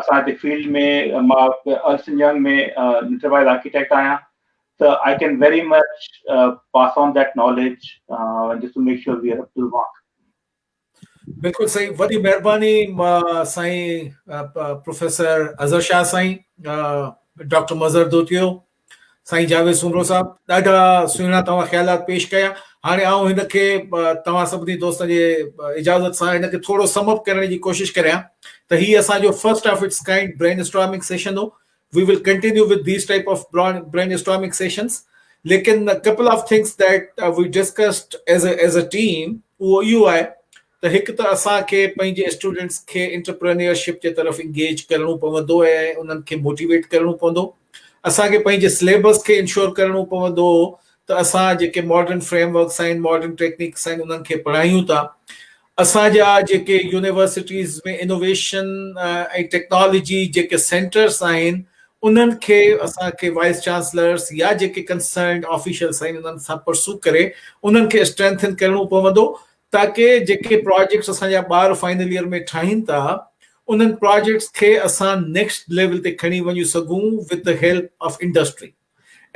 اسان جي فيلڊ ۾ مان Ernst and Young ۾ enterprise architect آهيان ته I can very much pass on that knowledge just to make sure we are up to mark بلڪل صحيح وڏي مهرباني سائين پروفيسر اظهر شاهه سائين ڊاڪٽر مظهر دوتيو سائين جاويد سومرو صاحب ڏاڍا سهڻا توهان خيالات پيش ڪيا هاڻي آئون هن کي توهان سڀني دوستن جي اجازت سان هن کي ٿورو سم اپ ڪرڻ جي ڪوشش ڪريان ته هي اسان جو first of its kind brainstorming session هو we will continue with these type of brainstorming sessions ليڪن couple of things that we discussed as as a team اهو اهو آهي ته هڪ ته اسان کي پنهنجي اسٽوڊنٽس کي انٽرپرينيورشپ جي طرف انگيج ڪرڻو پوندو ۽ انهن کي موٽيويٽ ڪرڻو پوندو. اسان کي پنهنجي سليبس کي انشور ڪرڻو پوندو ته اسان جيڪي ماڊرن فريم ورڪس آهن، ماڊرن ٽيڪنڪس آهن انهن کي پڙهايون ٿا. اسان جا جيڪي يونيورسٽيز ۾ انوويشن ۽ ٽيڪنالاجي جيڪي سينٽرس آهن انهن کي اسان کي وائيس چانسلرس يا جيڪي ڪنسرنڊ آفيشلس آهن انهن سان پرسو ڪري انهن کي اسٽرينٿن ڪرڻو پوندو تاڪه جيڪي پراجيڪٽس اسان جا ٻار فائنل ييئر ۾ ٺاهين ٿا انهن پراجيڪٽس کي اسان نيڪسٽ ليول تي کڻي وڃي سگهون with the help of industry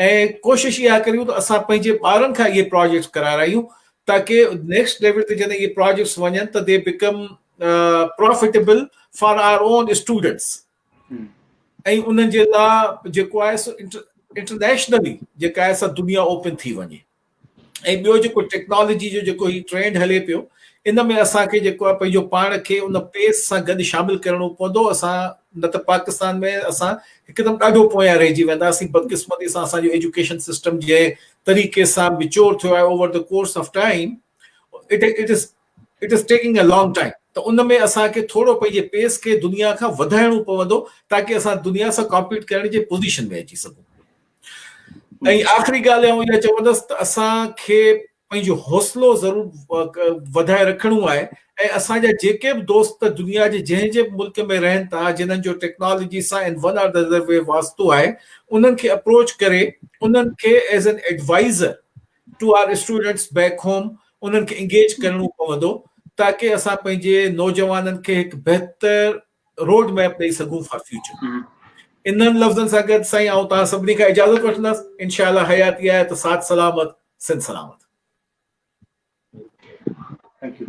۽ ڪوشش اها ڪريون ته اسان پنهنجي ٻارن کان اهي پراجيڪٽس ڪرارايون تاڪه نيڪسٽ ليول تي جڏهن اهي پراجيڪٽس وڃن ته they become profitable for our own students ۽ انهن جي لاء جيڪو آهي سو انٽرنيشنلي جيڪا آهي سا دنيا اوپن ٿي وڃي ۽ ٻيو جيڪو ٽيڪنالاجي جو جيڪو هي ٽرينڊ هلي پيو ان ۾ اسان کي جيڪو آهي پنهنجو پاڻ کي ان پيس سان گڏ شامل ڪرڻو پوندو اسان نه ته پاڪستان ۾ اسان هڪدم ڏاڍو پويان رهجي وينداسين بدقسمتي سان اسان جو ايجوڪيشن سسٽم جي طريقي سان ميچور ٿيو آهي over the course of time it it is it is taking a long time ته ان ۾ اسان کي ٿورو پنهنجي پيس کي دنيا کان وڌائڻو پوندو تاڪي اسان دنيا سان ڪامپيٽ ڪرڻ جي پوزيشن ۾ اچي سگهون ۽ آخري ڳالهه آئون اها چوندس ته اسان کي پنهنجو حوصلو ضرور وڌائي رکڻو آهي ۽ اسان جا جيڪي به دوست دنيا جي جنهن جي به ملڪ ۾ رهن ٿا جنهن جو ٽيڪنالاجي سان in one or the other way واسطو آهي انهن کي اپروچ ڪري انهن کي as an advisor to our students back home انهن کي انگيج ڪرڻو پوندو تاڪي اسان پنهنجي نوجوانن کي هڪ بهتر روڊ ميپ ڏئي سگهون فار فيوچر انهن لفظن سان گڏ سائين آئون توهان سڀني کان اجازت وٺندس انشاء الله حياتي آهي ته ساٿ سلامت سنڌ سلامت Thank you.